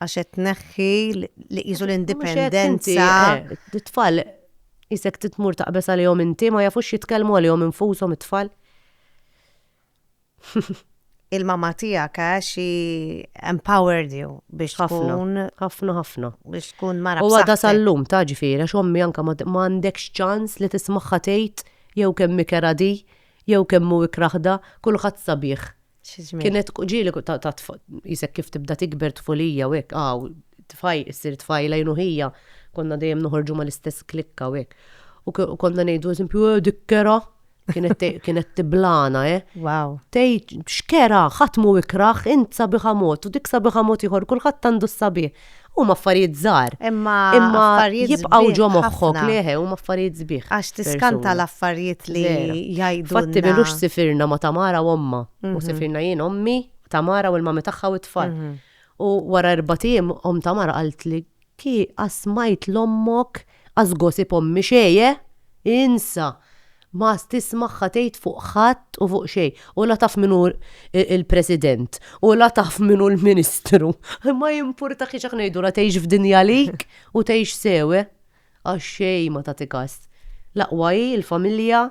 Għax qed tneħħi li qisu l-indipendenza. It-tfal isek titmur taqbeż għalihom inti ma jafux jitkellmu għalihom infushom it-tfal. Il-mama tiegħek għax xi empowered you biex tkun ħafna ħafna biex tkun mara. U għadha sal-lum ta' ġifieri għax ommi anke ma għandekx ċans li tismagħha tgħid jew kemm ikera di jew kemm hu ikraħda kulħadd sabiħ Kienet ġieli ta' jisek kif tibda tikber tfulija u hekk, għaw, tfaj, issir tfajla jnuħija, konna dejjem noħorġu ma l-istess klikka u hekk. U konna ngħidu eżempju, eh, dikkera, kienet tiblana, eh. Wow. Tej, xkera, ħatmu ikraħ, int sabiħa mod, u dik sabiħa mod ieħor, kulħadd għandu s-sabiħ. Huma affarijiet żgħar. Imma affarijiet żbieħ. Jibqgħu ġo moħħok li eħe huma affarijiet żbieħ. Għax tiskanta l-affarijiet li jgħidulna. Fatti milux sifirna ma' Tamara u ommha. U sifirna jien, ommi, Tamara u l-mami tagħha u t-tfal. U wara erbat ijiem omm Tamara qaltli, Ki, qatt smajt 'l ommok As gossip ommi xejn eh! Insa! M'għadx tismagħha tgħid fuq ħadd u fuq xejn. U la taf min hu l-President u la taf min hu l-Ministru. Ma jimpurtax jekk ngħidulha tgħix f'dinja għalik u tgħix sew eh! Għax xejn ma tagħti kas. L-aqwa hi l-familja,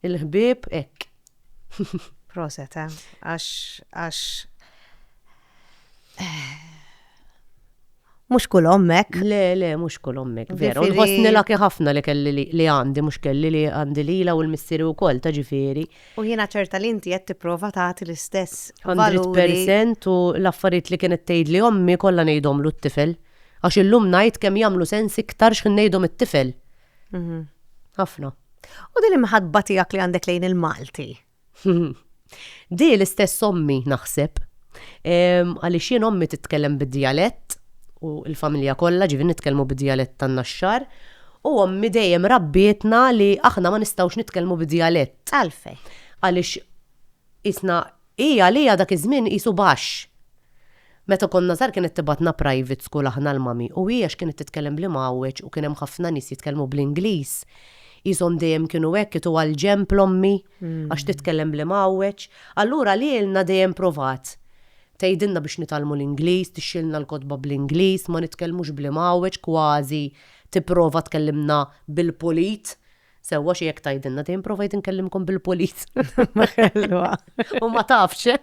Il-ħbieb hekk. Proset, eh? Għax, għax. Mux kull ommek. Le, le, mux kull ommek. Veru, nħosni laki ħafna li kelli li għandi, mux kelli li għandi li la u l-missiri u koll, taġifiri. U jena ċerta li inti jett prova taħti l-istess. 100% u l-affarijiet li kienet tgħid li ommi kollha ngħidhom l tifel Għax illum ngħid kemm jagħmlu sens iktar x'ħin ngħidhom it-tifel. Mhm. Ħafna. U din imħadba tiegħek li għandek lejn il-Malti. Di l-istess ommi naħseb. Għaliex jien ommi titkellem bid-dialett u l-familja kollha ġivi nitkellmu bid-dialett tan-naxxar. U ommi dejjem rabbietna li aħna ma nistgħux nitkellmu bid-dialett. Għalfej. Għaliex Qisna hi għaliha dak iż-żmien qisu baxx. Meta konna żgħar kienet tibgħatna private school aħna l-mommy u hi għax kienet titkellem bl-Imgħawweġ u kien hemm ħafna nies jitkellmu bl-Ingliż, qishom dejjem kienu hekk itu għall-ġenb l-ommi għax titkellem bl-Imgħawweġ. Allura lilna dejjem provat tgħidilna biex nitgħallmu l-Ingliż, tixxilna l-kotba bl-Ingliż, ma nitkellmux bl-Imgħawweġ kważi tipprova tkellimna bil-pulit. Sewwa xi jekk tgħidilna dejjem provajt inkellimkom bil-polis. Ma ħelwa. U ma tafx.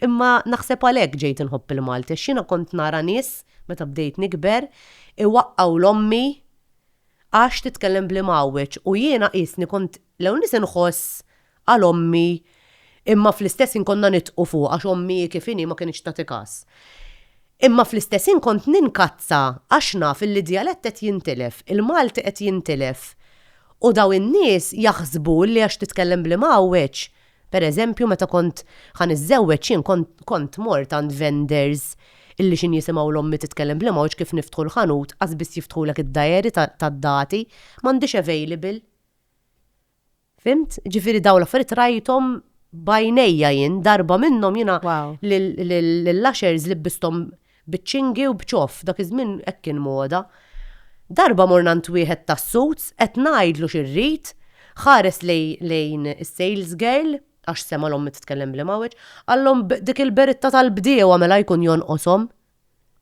Imma naħseb għalhekk ġejt inħobb il-Malti, x'jiena kont nara nies meta bdejt nikber, iwaqqgħu l-ommi għax titkellem bl-imgħawweġ u jiena qisni kont l-ewwel nies inħoss Qal ommi, imma fl-istess ħin konna nidqu fuqha għax ommi hi kif inhi ma kinitx tagħti każ. Imma fl-istess ħin kont ninkazza għax naf illi d-djalett qed jintilef, il-Malti qed jintilef u daw in-nies jaħsbu illi għax titkellem bl-Imgħawweġ, per eżempju meta kont ħa niżżewweġ jien kont mort għand vendors illi xi jisimgħu 'l ommi titkellem bl-Imgħawweġ kif niftħu l-ħanut qas biss jiftħulek id-dajeri tad-dati, m'għandix available. Fimt? Ġifieri dawn l-affarijiet rajthom b'għajnejja jien, darba minnhom jiena lill-ushers libbisthom biċ-ċingi u b'ċoff, dak iż-żmien hekk kien moda. Darba morna għand wieħed tas-suits, qed ngħidlu xi rrid, ħares lejn is-sales girl, għax sema' l-ommi titkellem bl-imgħawweġ, qallhom dik il-beritta tal-bdiewa mela jkun jonqoshom,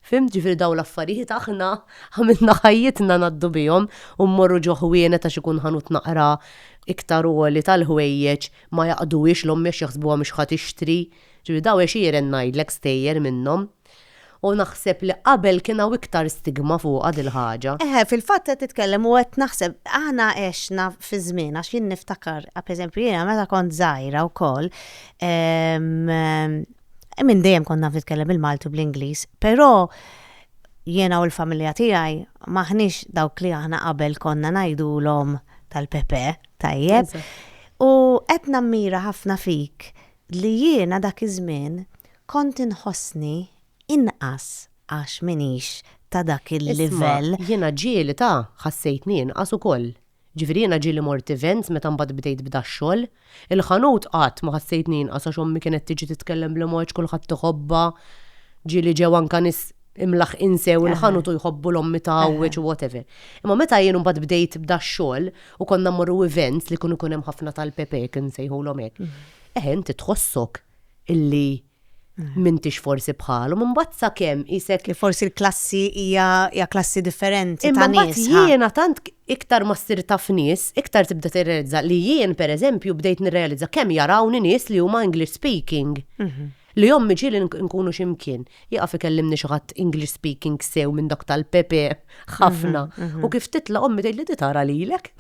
Fhimt? Ġifieri dawn l-affarijiet aħna għamilna ħajjitna ngħaddu bihom u mmorru ġo ħwienet għax ikun ħanut naqra iktar għoli tal-ħwejjeġ ma jaqduhiex l-ommi għax jaħsbuha mhux ħa tixtri. Ġifieri dawn għexieren ngħidlek stejjer minnhom. U naħseb li qabel kien hawn iktar stigma fuqha dil-ħaġa. Eħe, fil-fatt qed titkellem u qed naħseb aħna għexna fi żmien għax jien niftakar, pereżempju jiena meta kont żgħira wkoll, Minn dejjem kont naf nitkellem bil-Malti u bl-Ingliż, però jiena u l-familja tiegħi m'aħniex dawk li aħna qabel konna ngħidulhom tal-Pepe, tajjeb. U qed nammira ħafna fik li jiena dak iż-żmien kont inħossni inqas għax m'iniex ta' dak il-livell. Jiena ġieli ta' ħassejtni inqas ukoll. Ġifieri jiena ġieli mort events meta mbagħad bdejt b'dax-xogħol. Il-ħanut qatt ma ħassejtni inqas għax ommi kienet tiġi titkellem bl-imgħoġġ kulħadd iħobbha. Ġieli ġew anke nies imlaħħqin sew il-ħanut u jħobbu l-ommi tagħwieġ u whatever. Imma meta jien mbagħad bdejt b'dax-xogħol u konna mmorru events li kienu jkun hemm ħafna tal-pepe jekk insejħulhom hekk. Eħe inti tħossok illi m'intix forsi bħalhom, imbagħad sakemm qisek li forsi l-klassi hija hija klassi differenti ta' nies. Imma jiena tant iktar ma ssir taf nies, iktar tibda tirrealizza li jien pereżempju bdejt nirrealizza kemm jarawni nies li huma English speaking. Li ommi ġieli nkunu xi mkien, jieqaf ikellimni xi ħadd English speaking sew minn dak tal-Pepe ħafna u kif titla' ommi tgħidli di tara lilek.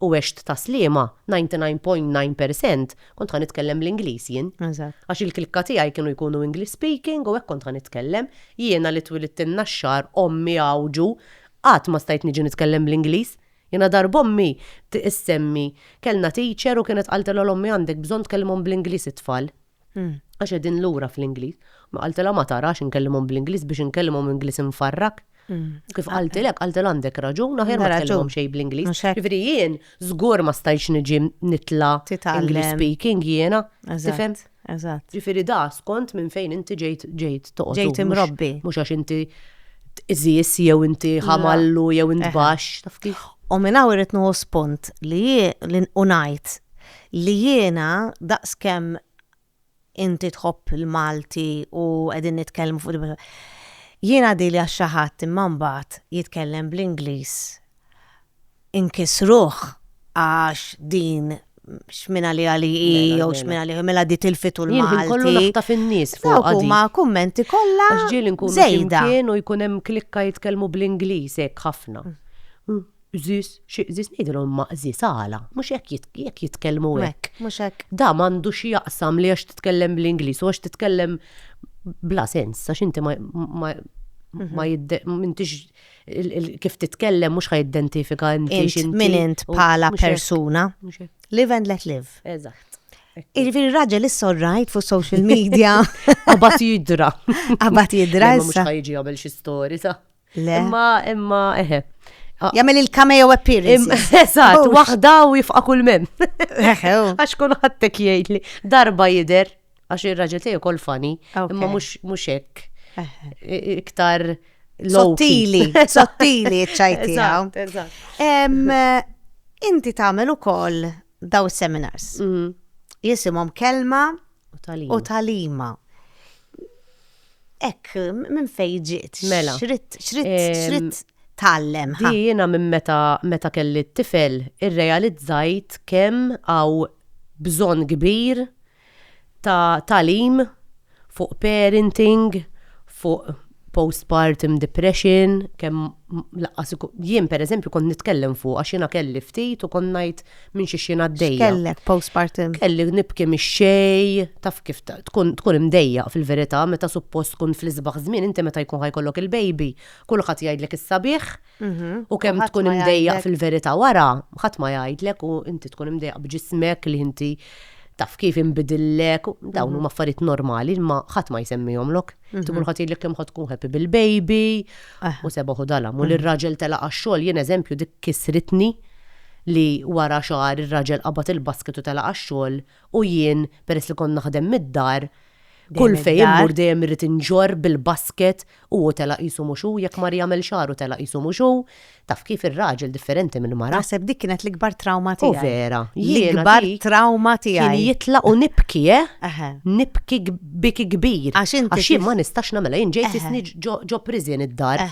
u għext ta' sliema, 99.9 per cent, kont ħa nitkellem bl-Ingliż jien. Eżatt. Għax il-klikka tiegħi kienu jkunu English speaking u hekk kont ħa nitkellem. Jiena li twilidt in-Naxxar, ommi Għawġu, qatt ma stajt niġi nitkellem bl-Ingliż. Jiena darba ommi issemmi, kellna teacher u kienet qaltilha l-ommi għandek bżonn tkellimhom bl-Ingliż it-tfal. Għax qegħdin lura fl-Ingliż. Ma qaltilha ma tarax inkellimhom bl-Ingliż biex inkellimhom Ingliż imfarrak. Kif qaltilek, qaltilha għandek raġun, aħjar ma tkellimhom xejn bl-Ingliż. Ġifieri jien żgur ma stajtx niġi nitla' English speaking jiena. Tifhem? Eżatt. Ġifieri da skont minn fejn inti ġejt ġejt toqgħod. Ġejt imrobbi. Mhux għax inti tqiżiż jew inti ħamallu jew int baxx, taf kif. U minn hawn irrid nieħu spunt li u ngħid Li jiena, daqs kemm inti tħobb il-Malti u qegħdin nitkellmu fuq din jiena għadili għax xi ħadd imma mbagħad jitkellem bl-Ingliż inkiss ruħ għax din x'minn għaliha li hi jew x'minn għaliha hi mela di tilfitu l-Malti. Jien ħin kollu naħtaf in-nies fuq Dawk huma kummenti kollha. Għax ġieli nkunu flimkien u jkun hemm klikka jitkellmu bl-Ingliż hekk ħafna. Qżis, xi qżis ngħidilhom ma qżis għala, mhux hekk jekk jitkellmu hekk. Mhux hekk. Da m'għandu xi jaqsam li għax titkellem bl-Ingliż u għax titkellem bla sens għax inti ma ma m'intix kif titkellem mhux ħa identifika inti min int bħala persuna. Live and let live. Eżatt. Irviri raġel issa rajt fuq social media. Abat jidra. Abat jidra. Mux ħajġi għabel xi story, sa. Le. Imma, imma, eħe. Ah. Jamel il-cameo appearance. Eżat, oh. wahda u jifqa kull mem. Oh. Għax kull ħattek jgħidli, darba jider, għax il-raġel tiegħu kol fani, imma mhux hekk. Iktar sottili, sottili ċajti. Inti tagħmel ukoll daw seminars. Mm. Jisimhom kelma u talima. Hekk, minn fejn ġiet? Mela. X'ridt, x'ridt, x'ridt tgħallem? Di jiena minn meta, meta kelli t-tifel irrealizzajt kemm hawn bżonn kbir ta' tagħlim fuq parenting, fuq postpartum depression, kemm lanqas ikun, jien pereżempju kont nitkellem fuqha għax jiena kelli ftit u kont ngħid minn xi xien għaddejja. Kellek postpartum. Kelli nibki mix-xej, taf kif tkun tkun imdejja fil-verità meta suppost tkun fl-isbaħ żmien inti meta jkun ħajkollok il-baby, kulħadd jgħidlek is-sabiħ mhm. u kemm tkun imdejja fil-verità wara, ħadd ma jgħidlek u inti tkun imdejja b'ġismek li inti taf kif inbidillek, dawn mhm. huma affarijiet normali ma ħadd ma jsemmihomlok. Mhm. Tkun ħadd jgħidlek kemm ħadd tkun ħepi bil-baby ah. u sebaħu dalam u l-raġel tela għax-xogħol jien eżempju dik kisritni li wara xahar ir-raġel qabad il-basket u telaq għax-xogħol u jien, peress li kont naħdem mid-dar, kull fejn immur dejjem irrid inġorr bil-basket u hu telaq qisu mhux hu, jekk mar jagħmel xahar u telaq qisu mhux hu. Taf kif, ir-raġel differenti mill-mara. Naħseb dik kienet l-ikbar trawma tiegħi. U vera. L-ikbar trawma tiegħi. Kien jitlaq u nibki, eh? Nibki biki kbir. Għax jien ma nistax nagħmilha, jien ġejt isni ġo priżien id-dar.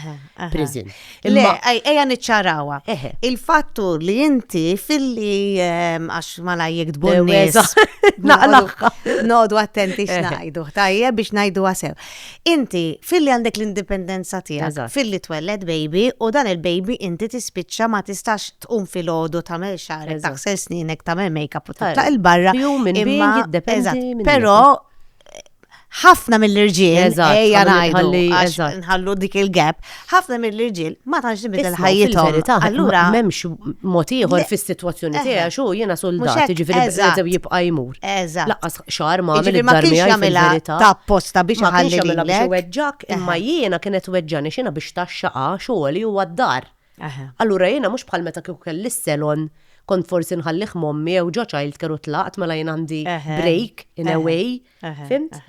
prison. Le, eja niċċarawa. Il-fattu li inti filli ehm, għax ma lajjek dbunnis. Nodu attenti xnajdu, tajje biex najdu għasew. Inti filli għandek l-indipendenza tijak, filli twelled baby u dan il-baby inti tispiċċa ma tistax tqum fil-ħodu ta' mel xarek, taħsel sninek, ta' mel make-up u ta' il-barra. Pero ħafna mill-irġiel, ejja ngħidu, nħallu dik il-gap, ħafna mill-irġiel ma tantx nibidel ħajjithom. Allura m'hemmx mod ieħor fis-sitwazzjoni eh, tiegħi xu jiena soldat, jiġifieri bżew jibqa' jmur. Laqqas xahar ma għamel id-darmi għal ta' apposta biex ħalli biex weġġak, imma jiena kienet weġġani xina biex taxxaqa xogħol li huwa d-dar. Allura jiena mhux bħal meta kieku kelli s-selon kont forsi nħallih mommi jew ġo child care u tlaqt mela jien għandi break in a way Fimt?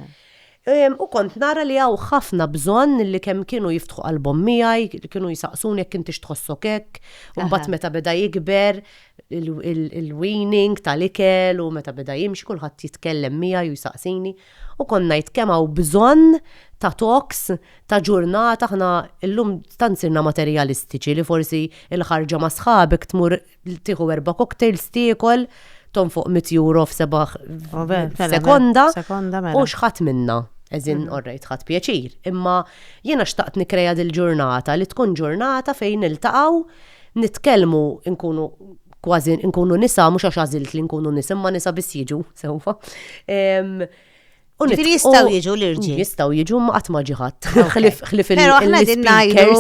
U kont nara li għaw ħafna bżonn li kemm kienu jiftħu qalbhom miegħi, kienu jisaqsuni jekk intix tħossok hekk, u mbagħad meta beda jikber il-weaning tal-ikel u meta beda jimxi kulħadd jitkellem miegħi u jsaqsini. U kont ngħid kemm hawn bżonn ta' talks ta' ġurnata aħna llum tant sirna materjalistiċi li forsi l-ħarġa ma' sħabek tmur Tieħu erba' cocktails tiekol, tonfoq 100 euro f'seba' sekonda. Mela. U xħat minna. Eżin, mhm. orrejt, ħat pjaċir. Imma jiena xtaqt nikreja dil-ġurnata li tkun ġurnata fejn niltaqgħu nitkellmu nkunu kważi nkunu nisa mhux għax għażilt li nkunu nisa imma nisa biss jiġu sewfa. Ġifiri jistaw jiġu l-irġi. Jistaw jiġu ma għatma ġiħat. Xlif il-speakers. Pero għahna din najdu.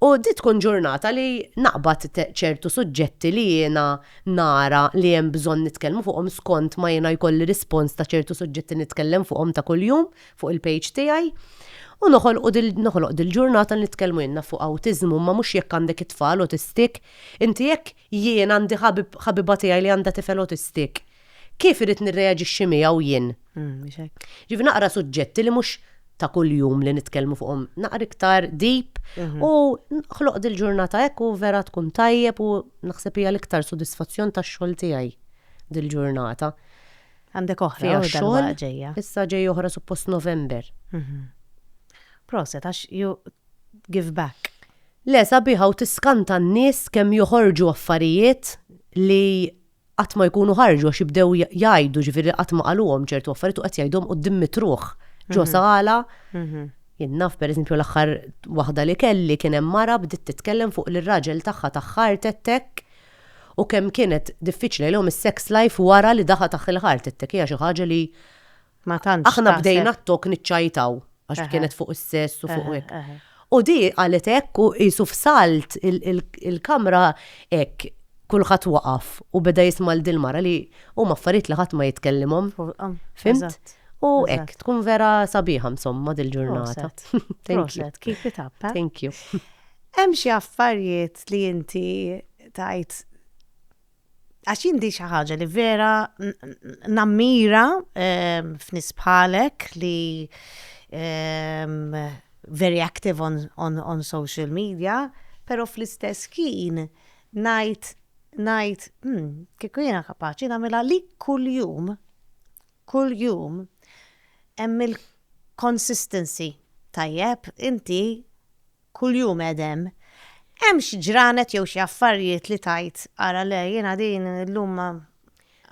U di tkun ġurnata li naqbad ċertu suġġetti li jiena nara li hemm bżonn nitkellmu fuqhom skont ma jiena jkolli rispons ta' ċertu suġġetti nitkellem fuqhom ta' kuljum fuq il-page tiegħi. U noħloq dil-ġurnata nitkellmu jenna fuq autizmu, ma mux jekk għandek it-tfal autistik, inti jekk Jien għandi ħabib, ħabiba tiegħi li għandha tifel autistic. Kif irid nirreaġixxi miegħu jien? Mhux hekk. Ġifi naqra suġġetti li mhux ta' kuljum li nitkellmu fuqhom, naqra iktar deep u ħloq dil-ġurnata hekk u vera tkun tajjeb u naħseb hija l-iktar sodisfazzjon tax-xogħol tiegħi dil-ġurnata. Għandek oħra Fiha dal-waqt xogħol, ġejja. issa ġej oħra suppost November. Proset, għax ju give back. Le sabiħa u tiskanta n-nies kemm joħorġu affarijiet li qatt ma jkunu ħarġu għax jibdew jgħidu ġifieri qatt ma qaluhom ċertu affarijiet u qed jgħidhom quddiem mitruħ ġo sala. Jien naf pereżempju l-aħħar waħda li kelli kien hemm mara bdiet titkellem fuq li r-raġel tagħha tah heart attack u kemm kienet diffiċli għalihom is-sex life wara li daħa tah il-heart attack hija xi ħaġa li Ma tantx. Aħna bdejna t-tok niċċajtaw għax kienet fuq is-sess u fuq hekk. U di qalet hekk u qisu f'salt il-kamra hekk kulħadd waqaf u beda jisma' 'l dil-mara li huma affarijiet li ħadd ma jitkellimhom. Fimt? U hekk tkun vera sabiħa insomma dil-ġurnata. Thank you. Keep it up. Thank you. Hemm xi affarijiet li inti tgħid għax jien di xi ħaġa li vera nammira ehm, f'nis bħalek li ehm, very active on, on, on social media, pero fl-istess kien najt najt hmm, kieku jiena kapaċi nagħmilha li kuljum kuljum hemm il-consistency tajjeb inti kuljum qegħed hemm. Hemm xi ġranet jew xi affarijiet li tgħid, ara le, jiena din illum ma,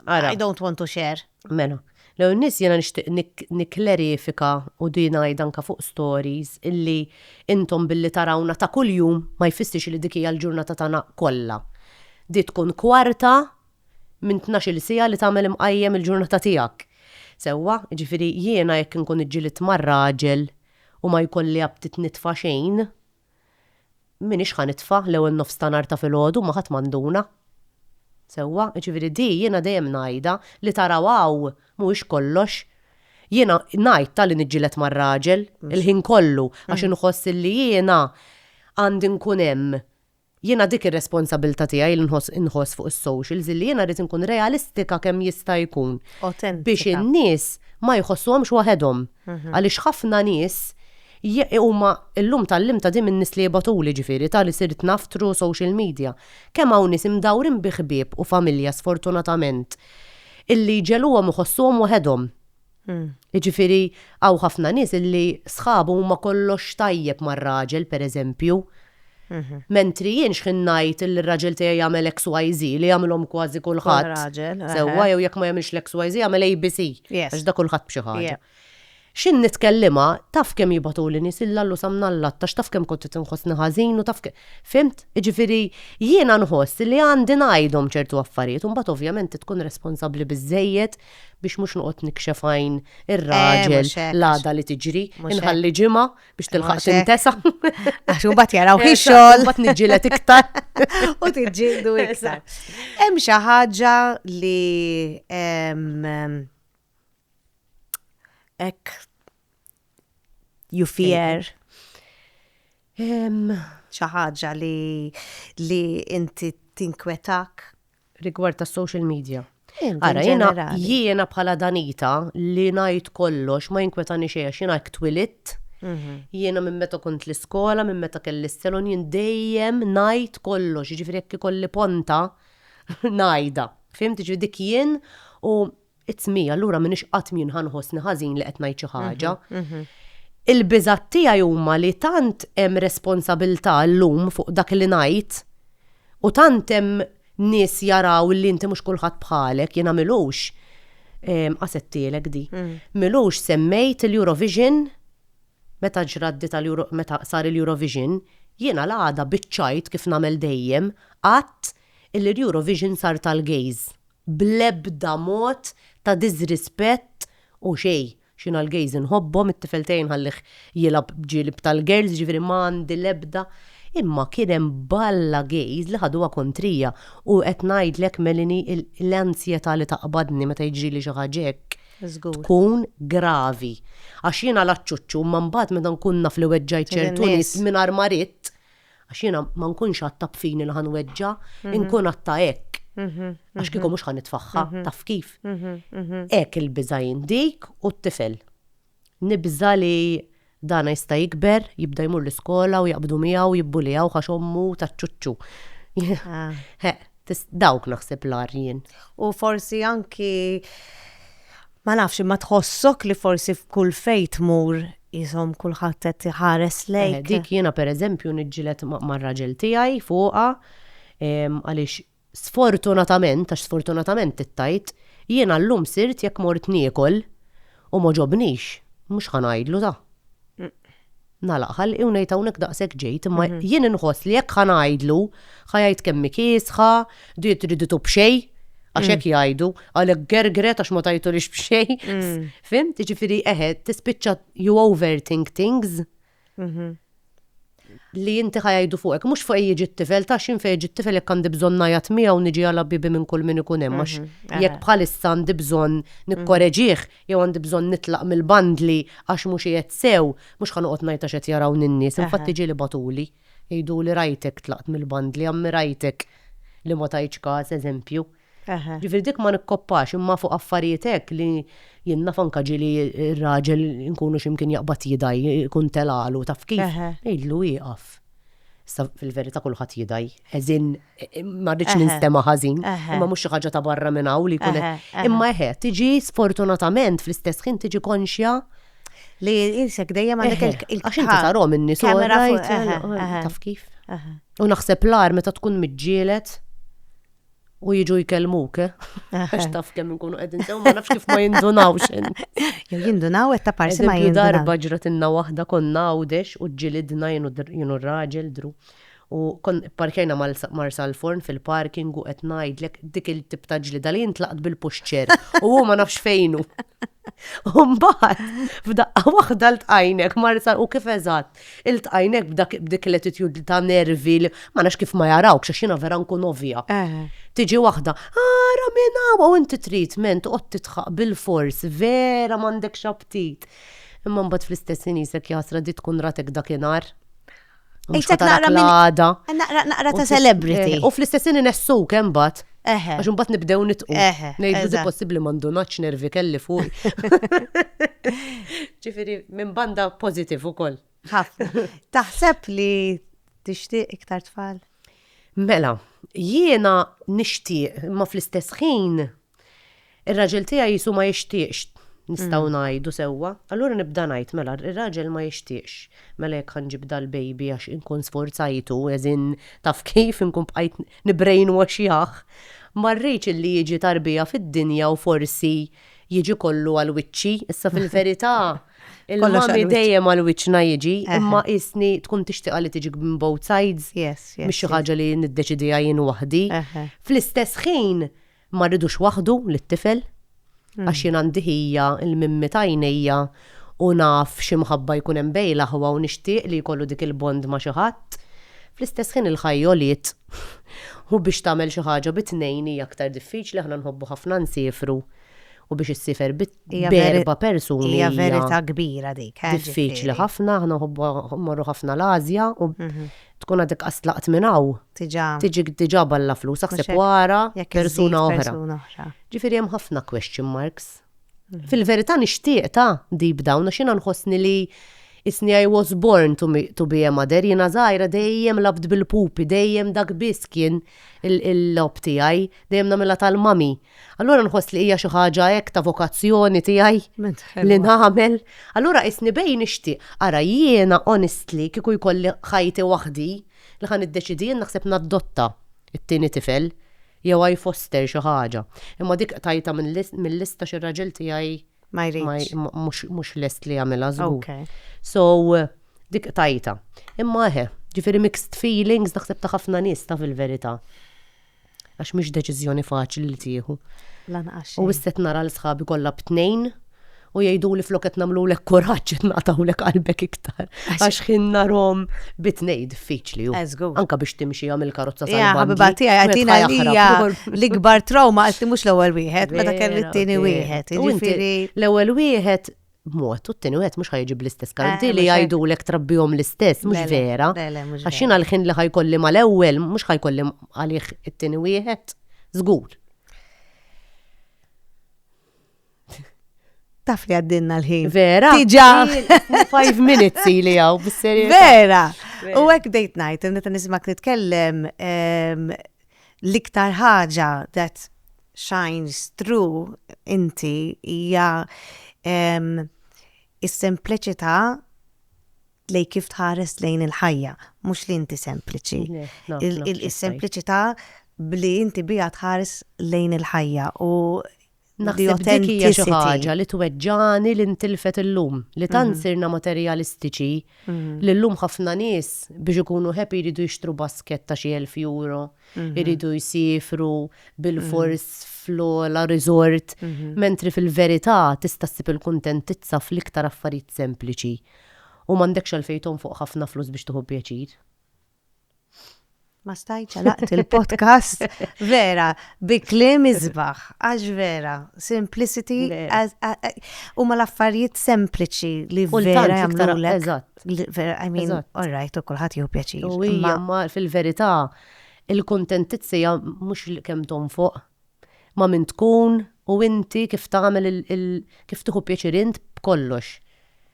I don't want to share. Mela, l-ewwel nett jiena nixtieq nikklerifika u din ngħidha anke fuq stories illi intom billi tarawna ta' kuljum ma jfissirx li dik hija l-ġurnata tagħna kollha. Di tkun kwarta minn tnax-il siegħa li tagħmel imqajjem il-ġurnata tiegħek. Sewwa? Jiġifieri jiena jekk inkun iġġilidt ma' raġel u ma jkolli aptit nitfa' xejn, m'iniex ħa nitfa' l-ewwel nofs ta' nhar ta' filgħodu ma' ħadd ma nduna. Sewwa, jiġifieri di jiena dejjem ngħidha, li taraw hawn mhuwiex kollox. Jiena ngħid ta' li niġġieled mar-raġel il-ħin kollu għax inħoss illi jiena għandi nkun hemm Jiena dik ir-responsabilità tiegħi li nħoss inħoss fuq is-socials illi jiena rrid inkun realistika kemm jista' jkun biex in-nies ma jħossuhomx waħedhom. Għaliex ħafna nies huma llum tgħallimta din min-nies li jibgħatuli ġifieri ta' li sirt naf through social media. Kemm hawn nies imdawrin bi ħbieb u familja sfortunatament illi jġegħluhom iħossuhom waħedhom. Jiġifieri hawn ħafna nies illi sħabu huma kollox tajjeb mar-raġel pereżempju, mentri jien x'ħin ngħid illi r-raġel tiegħi jagħmel XYZ li jagħmilhom kważi kulħadd sewwa jew jekk ma jagħmilx l-XYZ jagħmel ABC għax dak kulħadd b'xi ħaġa. X'ħin nitkellimha taf kemm jibgħatuli nies il Lallu sa mnallat għax taf kemm kont qed inħossni ħażin u taf kemm fimt? Jiġifieri jiena nħoss illi għandi ngħidhom ċertu affarijiet u mbagħad ovvjament tkun responsabbli biżżejjed biex mhux noqgħod nikxef għajn eh, ir-raġel l-għada li tiġri, inħalli ġimgħa biex tilħaq tintesa. Għax imbagħad jaraw ħi xogħol. Imbagħad niġġieled iktar. U tiġġieldu iktar. Hemm xi ħaġa li hekk you fear xi ħaġa li li inti tinkwetak rigward ta' social media. Ara, jiena jiena bħala danita li ngħid kollox ma jinkwetani xejn għax jiena twilit. Mhm. Jiena minn meta kont l-iskola, minn meta kelli s-selon jien dejjem ngħid kollox, jiġifieri jekk ikolli ponta ngħidha. Fimti ġi dik jien u It's me, allura minix qatt min ħanħossni ħażin li qed ngħid xi ħaġa. Mhm, mhm. Il-biżat tiegħi huma li tant hemm responsabilità llum fuq dak li ngħid u tant hemm nies jaraw li inti mhux kulħadd bħalek jiena milux ehm, qasettielek di. Mm. Milux semmejt l-Eurovision meta ġraddi tal meta sar il-Eurovision jiena l-għada biċċajt kif nagħmel dejjem qatt il-Eurovision sar tal-gays bl-ebda mod ta' diżrispett u xejn. X'jien għall-gays inħobbhom, it-tifel tiegħi nħallih jilgħab b'ġilib tal-girls, jiġifieri ma għandi l-ebda, imma kien hemm balla gays li ħaduha kontrija u qed ngħidlek Melanie l-anzjetà li taqbadni meta jiġrili xi ħaġa hekk tkun gravi. Għax jiena l-aċċuċċu imma mbagħad meta nkun naf li weġġajt ċertu nies mingħajr ma ridt, Għax jiena ma nkunx għatta b'fini li ħanweġġa, mhm. inkun għatta hekk. Mhm, għax kieku mhm. mhux ħan nitfaħħa, taf kif. Hekk il-biża jindik u t-tifel. Nibża li dana jista' jikber, jibda jmur l-iskola u jaqbdu miegħu jibbulijaw għax ommu taċċuċċu. Ah. Dawk naħseb l-arjen. U forsi anki Ma nafx, imma tħossok li forsi f'kull fejn tmur qishom kulħadd qed iħares lejk? Eh, dik jiena pereżempju niġġieled mar-raġel tiegħi fuqha għaliex sfortunatament, għax sfortunatament tittajt, jiena llum sirt jekk mort niekol u ma ġobnix, mhux ħa ngħidlu ta'. Nagħlaq ħalqi u ngħid hawnhekk daqshekk ġejt, imma jien inħoss li jekk ħa ngħidlu, ħa jgħid kemm hi kiesħa, di triditu b'xejn, għax hekk jgħidu, għalhekk gergret għax ma tajtulix b'xejn. Fimt? Jiġifieri eħe, tispiċċa you overthink things li inti ħa jgħidu fuqek, mhux fuq jiġi t-tifel, ta' xin fejn jiġi t-tifel jekk għandi bżonn ngħajat miegħu niġi għal bibi minn kull min ikun hemm, għax jekk bħalissa għandi bżonn nikkoreġih, jew għandi bżonn nitlaq mill-bandli għax mhux qiegħed sew, mhux ħa noqgħod ngħid għax qed jarawni n-nies, infatti ġieli bagħtuli jgħiduli rajtek tlaqt mill-bandli, ammirajtek li ma tajtx kas, eżempju. Ġifieri dik ma nikkoppax, imma fuq affarijiet hekk li jien naf anke ġieli r-raġel inkunu xi mkien jaqbad jidgħi, ikun telagħlu taf kif, ngħidlu ieqaf. Sa fil-verità kulħadd jidaj. Eżin, ma rridx ninstema ħażin, imma mhux xi ħaġa ta' barra minn hawn li jkun. Imma eħe, tiġi sfortunatament fl-istess ħin tiġi konxja li jinsek dejjem għandek il-kamera. Għax inti tarom in Taf kif? U naħseb l-ar meta tkun miġġielet u jiġu jkellmuk, eh? Għax taf kemm nkunu qegħdin sew ma nafx kif ma jindunawx. Jew jindunaw qed ta' parsi ma jindunaw. Darba ġratinna waħda konna għawdex u ġilidna jienu r-raġel dru. U kon parkejna marsa l-forn fil-parking u qed ngħidlek dik il-tip ta' ġlida li jintlaqt bil-puxċer u hu ma nafx fejnu. Umbaħt, f'daqqa waħda l-tqajnek marsa u kif eżatt. Iltqajn hekk b'dak b'dik l-attitude ta' nervi li ma nafx kif ma jarawkx għax jiena vera nkun ovvja. Tiġi waħda, ara minn hawn u inti trid men toqgħod tidħaq bilfors vera m'għandekx aptit. Imma mbagħad fl-istess ħin qisek jaħsra di tkun ratek dakinhar. Mhux Qisek ħatarak naqra minn- l-għada. Naqra naqra ta' celebrity. U fl-istess ħin inessuk imbagħad. Eħe. Għax imbagħad nibdew nitqu. Eħe. Ngħidu di possibbli ma ndunatx nervi kelli fuq. Ġifieri minn banda pożittiv ukoll. Taħseb li tixtieq iktar tfal? Mela, jiena nixtieq, ma fl-istess ħin Ir-raġel tiegħi qisu ma jixtieqx, nistgħu ngħidu sewwa. Allura nibda ngħid, mela r-raġel ma jixtieqx, mela jekk ħa nġib dal-baby għax inkun sfurzajtu, as in taf kif, inkun bqajt nibbrainwashjah, ma rridx illi jiġi tarbija fid-dinja u forsi jiġi kollu għal wiċċi. Issa fil-verità il-mommy dejjem għal wiċċna jiġi, imma qisni tkun tixtieqha li tiġi minn both sides, mhix xi ħaġa li niddeċidiha jien waħdi. Fl-istess ħin Ma rridux waħdu lit-tifel, għax jien għandi ħija l-mimmi ta' għajnejja u naf xi mħabba jkun hemm bejn l-aħwa u nixtieq li jkollu dik il-bond ma' xi ħadd. Fl-istess ħin il-ħajja għoliet u biex tagħmel xi ħaġa bi tnejn hija aktar diffiċli, aħna nħobbu ħafna nsiefru u biex issiefer bi b'erba' persuni hija. Hija verità kbira dik. Diffiċli ħafna, aħna nħobbu mmorru ħafna l-Ażja u Tkun għadek qas tlaqt minn hawn. Diġà. Tiġik diġà balla flus, aħseb wara persuna oħra. Ġifieri hemm ħafna question marks. Fil-verità nixtieq ta' deep down għax jiena nħossni li isni I was born to, to be a mother, jiena żgħira dejjem labt bil-pupi, dejjem dak biss kien il-lob tiegħi, dejjem nagħmilha tal-mami. Allura nħoss li hija xi ħaġa hekk ta' vokazzjoni tiegħi li nagħmel. Allura isni bejn nixtieq. Ara jiena honestly kieku jkolli ħajti waħdi li ħan iddeċidi jien naħseb naddotta t-tieni tifel jew I foster xi ħaġa. Imma dik tajta mill-lista xi raġel tiegħi ma jridx. Mhux lest li jagħmilha żgur. So dik tajta. Imma eħe, ġifieri mixed feelings naħseb ta' ħafna nies ta' fil-verità. Għax mhix deċiżjoni faċli li tieħu. Lanqas xejn. U issa qed nara li sħabi kollha b'tnejn u jgħiduli flok qed nagħmlulek kuraġġ qed naqtgħulek qalbek iktar. Għax ħin narhom bitnej diffiċli hu. Anka biex timxi għamil karozza sa. Ja, ħabiba tiegħi għatina hija l-ikbar trauma għalti mhux l-ewwel wieħed, meta kelli t-tieni wieħed. Jiġifieri l-ewwel wieħed b'mod u t-tieni wieħed mhux ħajġib l-istess karti li jgħidulek trabbihom l-istess, mhux vera. Għax jiena l-ħin li ħajkolli mal-ewwel mhux ħajkolli għalih it-tieni wieħed, żgur. taf li għaddinna l-ħin. Vera. Tiġa. Five minutes li għaw, bisseri. Vera. U għek dejt najt, neta nismak nitkellem, L-iktar ħaġa that shines through inti hija s-sempliċità lejn kif tħares lejn il-ħajja, mhux li inti sempliċi. Is-sempliċità b'li inti biha tħares lejn il-ħajja u Naħseb dik hija xi ħaġa li tweġġani li ntilfet illum, li tant mhm. sirna materjalistiċi mhm. li llum ħafna nies biex ikunu happy jridu jixtru basket ta' xi elf euro, mhm. jridu jsifru bil-fors fl-ola resort, mentri fil-verità tista' ssib il-kuntentizza fl-iktar affarijiet sempliċi. U m'għandekx għalfejn fuq ħafna flus biex tuħu pjaċir. Ma stajt ċalaqt il-podcast vera bi klim izbaħ, għax vera, simplicity, u ma l-affarijiet sempliċi li vera jagħmlu l Eżatt. Vera, I mean, all right, u kulħadd jew pjaċir. U hija ma fil-verità il-kontentizzi mhux kemm tom fuq ma' min tkun u inti kif tagħmel il kif tieħu pjaċir int b'kollox.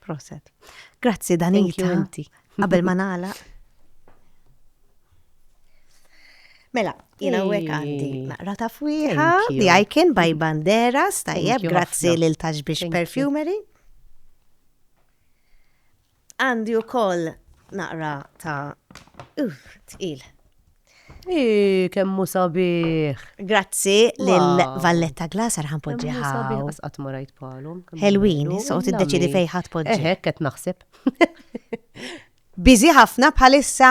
Proset. Grazzi Danita. Qabel ma nagħlaq. Mela, jina u għandi naqra ta' fwiħa, di għajkin baj bandera, stajjeb, grazzi l-taġbix perfumery. Għandi wkoll naqra ta' uh, tqil. Ih, kemm hu sabiħ! Grazzi lil Valletta Glass għal ħanpoġġi Kemm hu sabiħ hawn. għas qatt ma rajt bħalhom. kemm Ħelwin, hu issa u bellu, tiddeċiedi illa fejn ħadd mi. poġġi. Eħe, hekk qed naħseb. Busy ħafna bħalissa?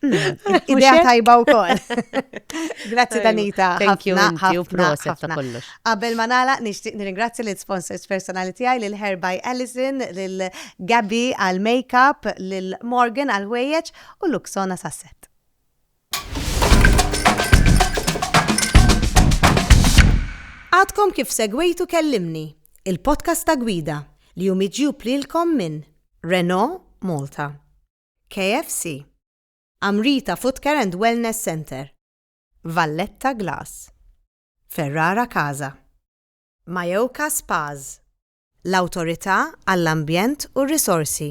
Idea tajba u koll. Grazzi Danita. Thank you, ħafna, proset ta' kollox. Qabel ma nala, nishtiq nirringrazzi l-sponsors personali tijaj, l-Hair by Allison, l-Gabby għal-makeup, l-Morgan għal-ħwejjeċ u l-Luxona sasset. Għadkom kif segwejtu kellimni, il-podcast ta' gwida li jumiġju plilkom minn Renault Malta. KFC, Amrita Footcare and Wellness Centre, Valletta Glass, Ferrara Casa, Mayoka Spas, l-Awtorità għall-Ambjent u r-Risorsi,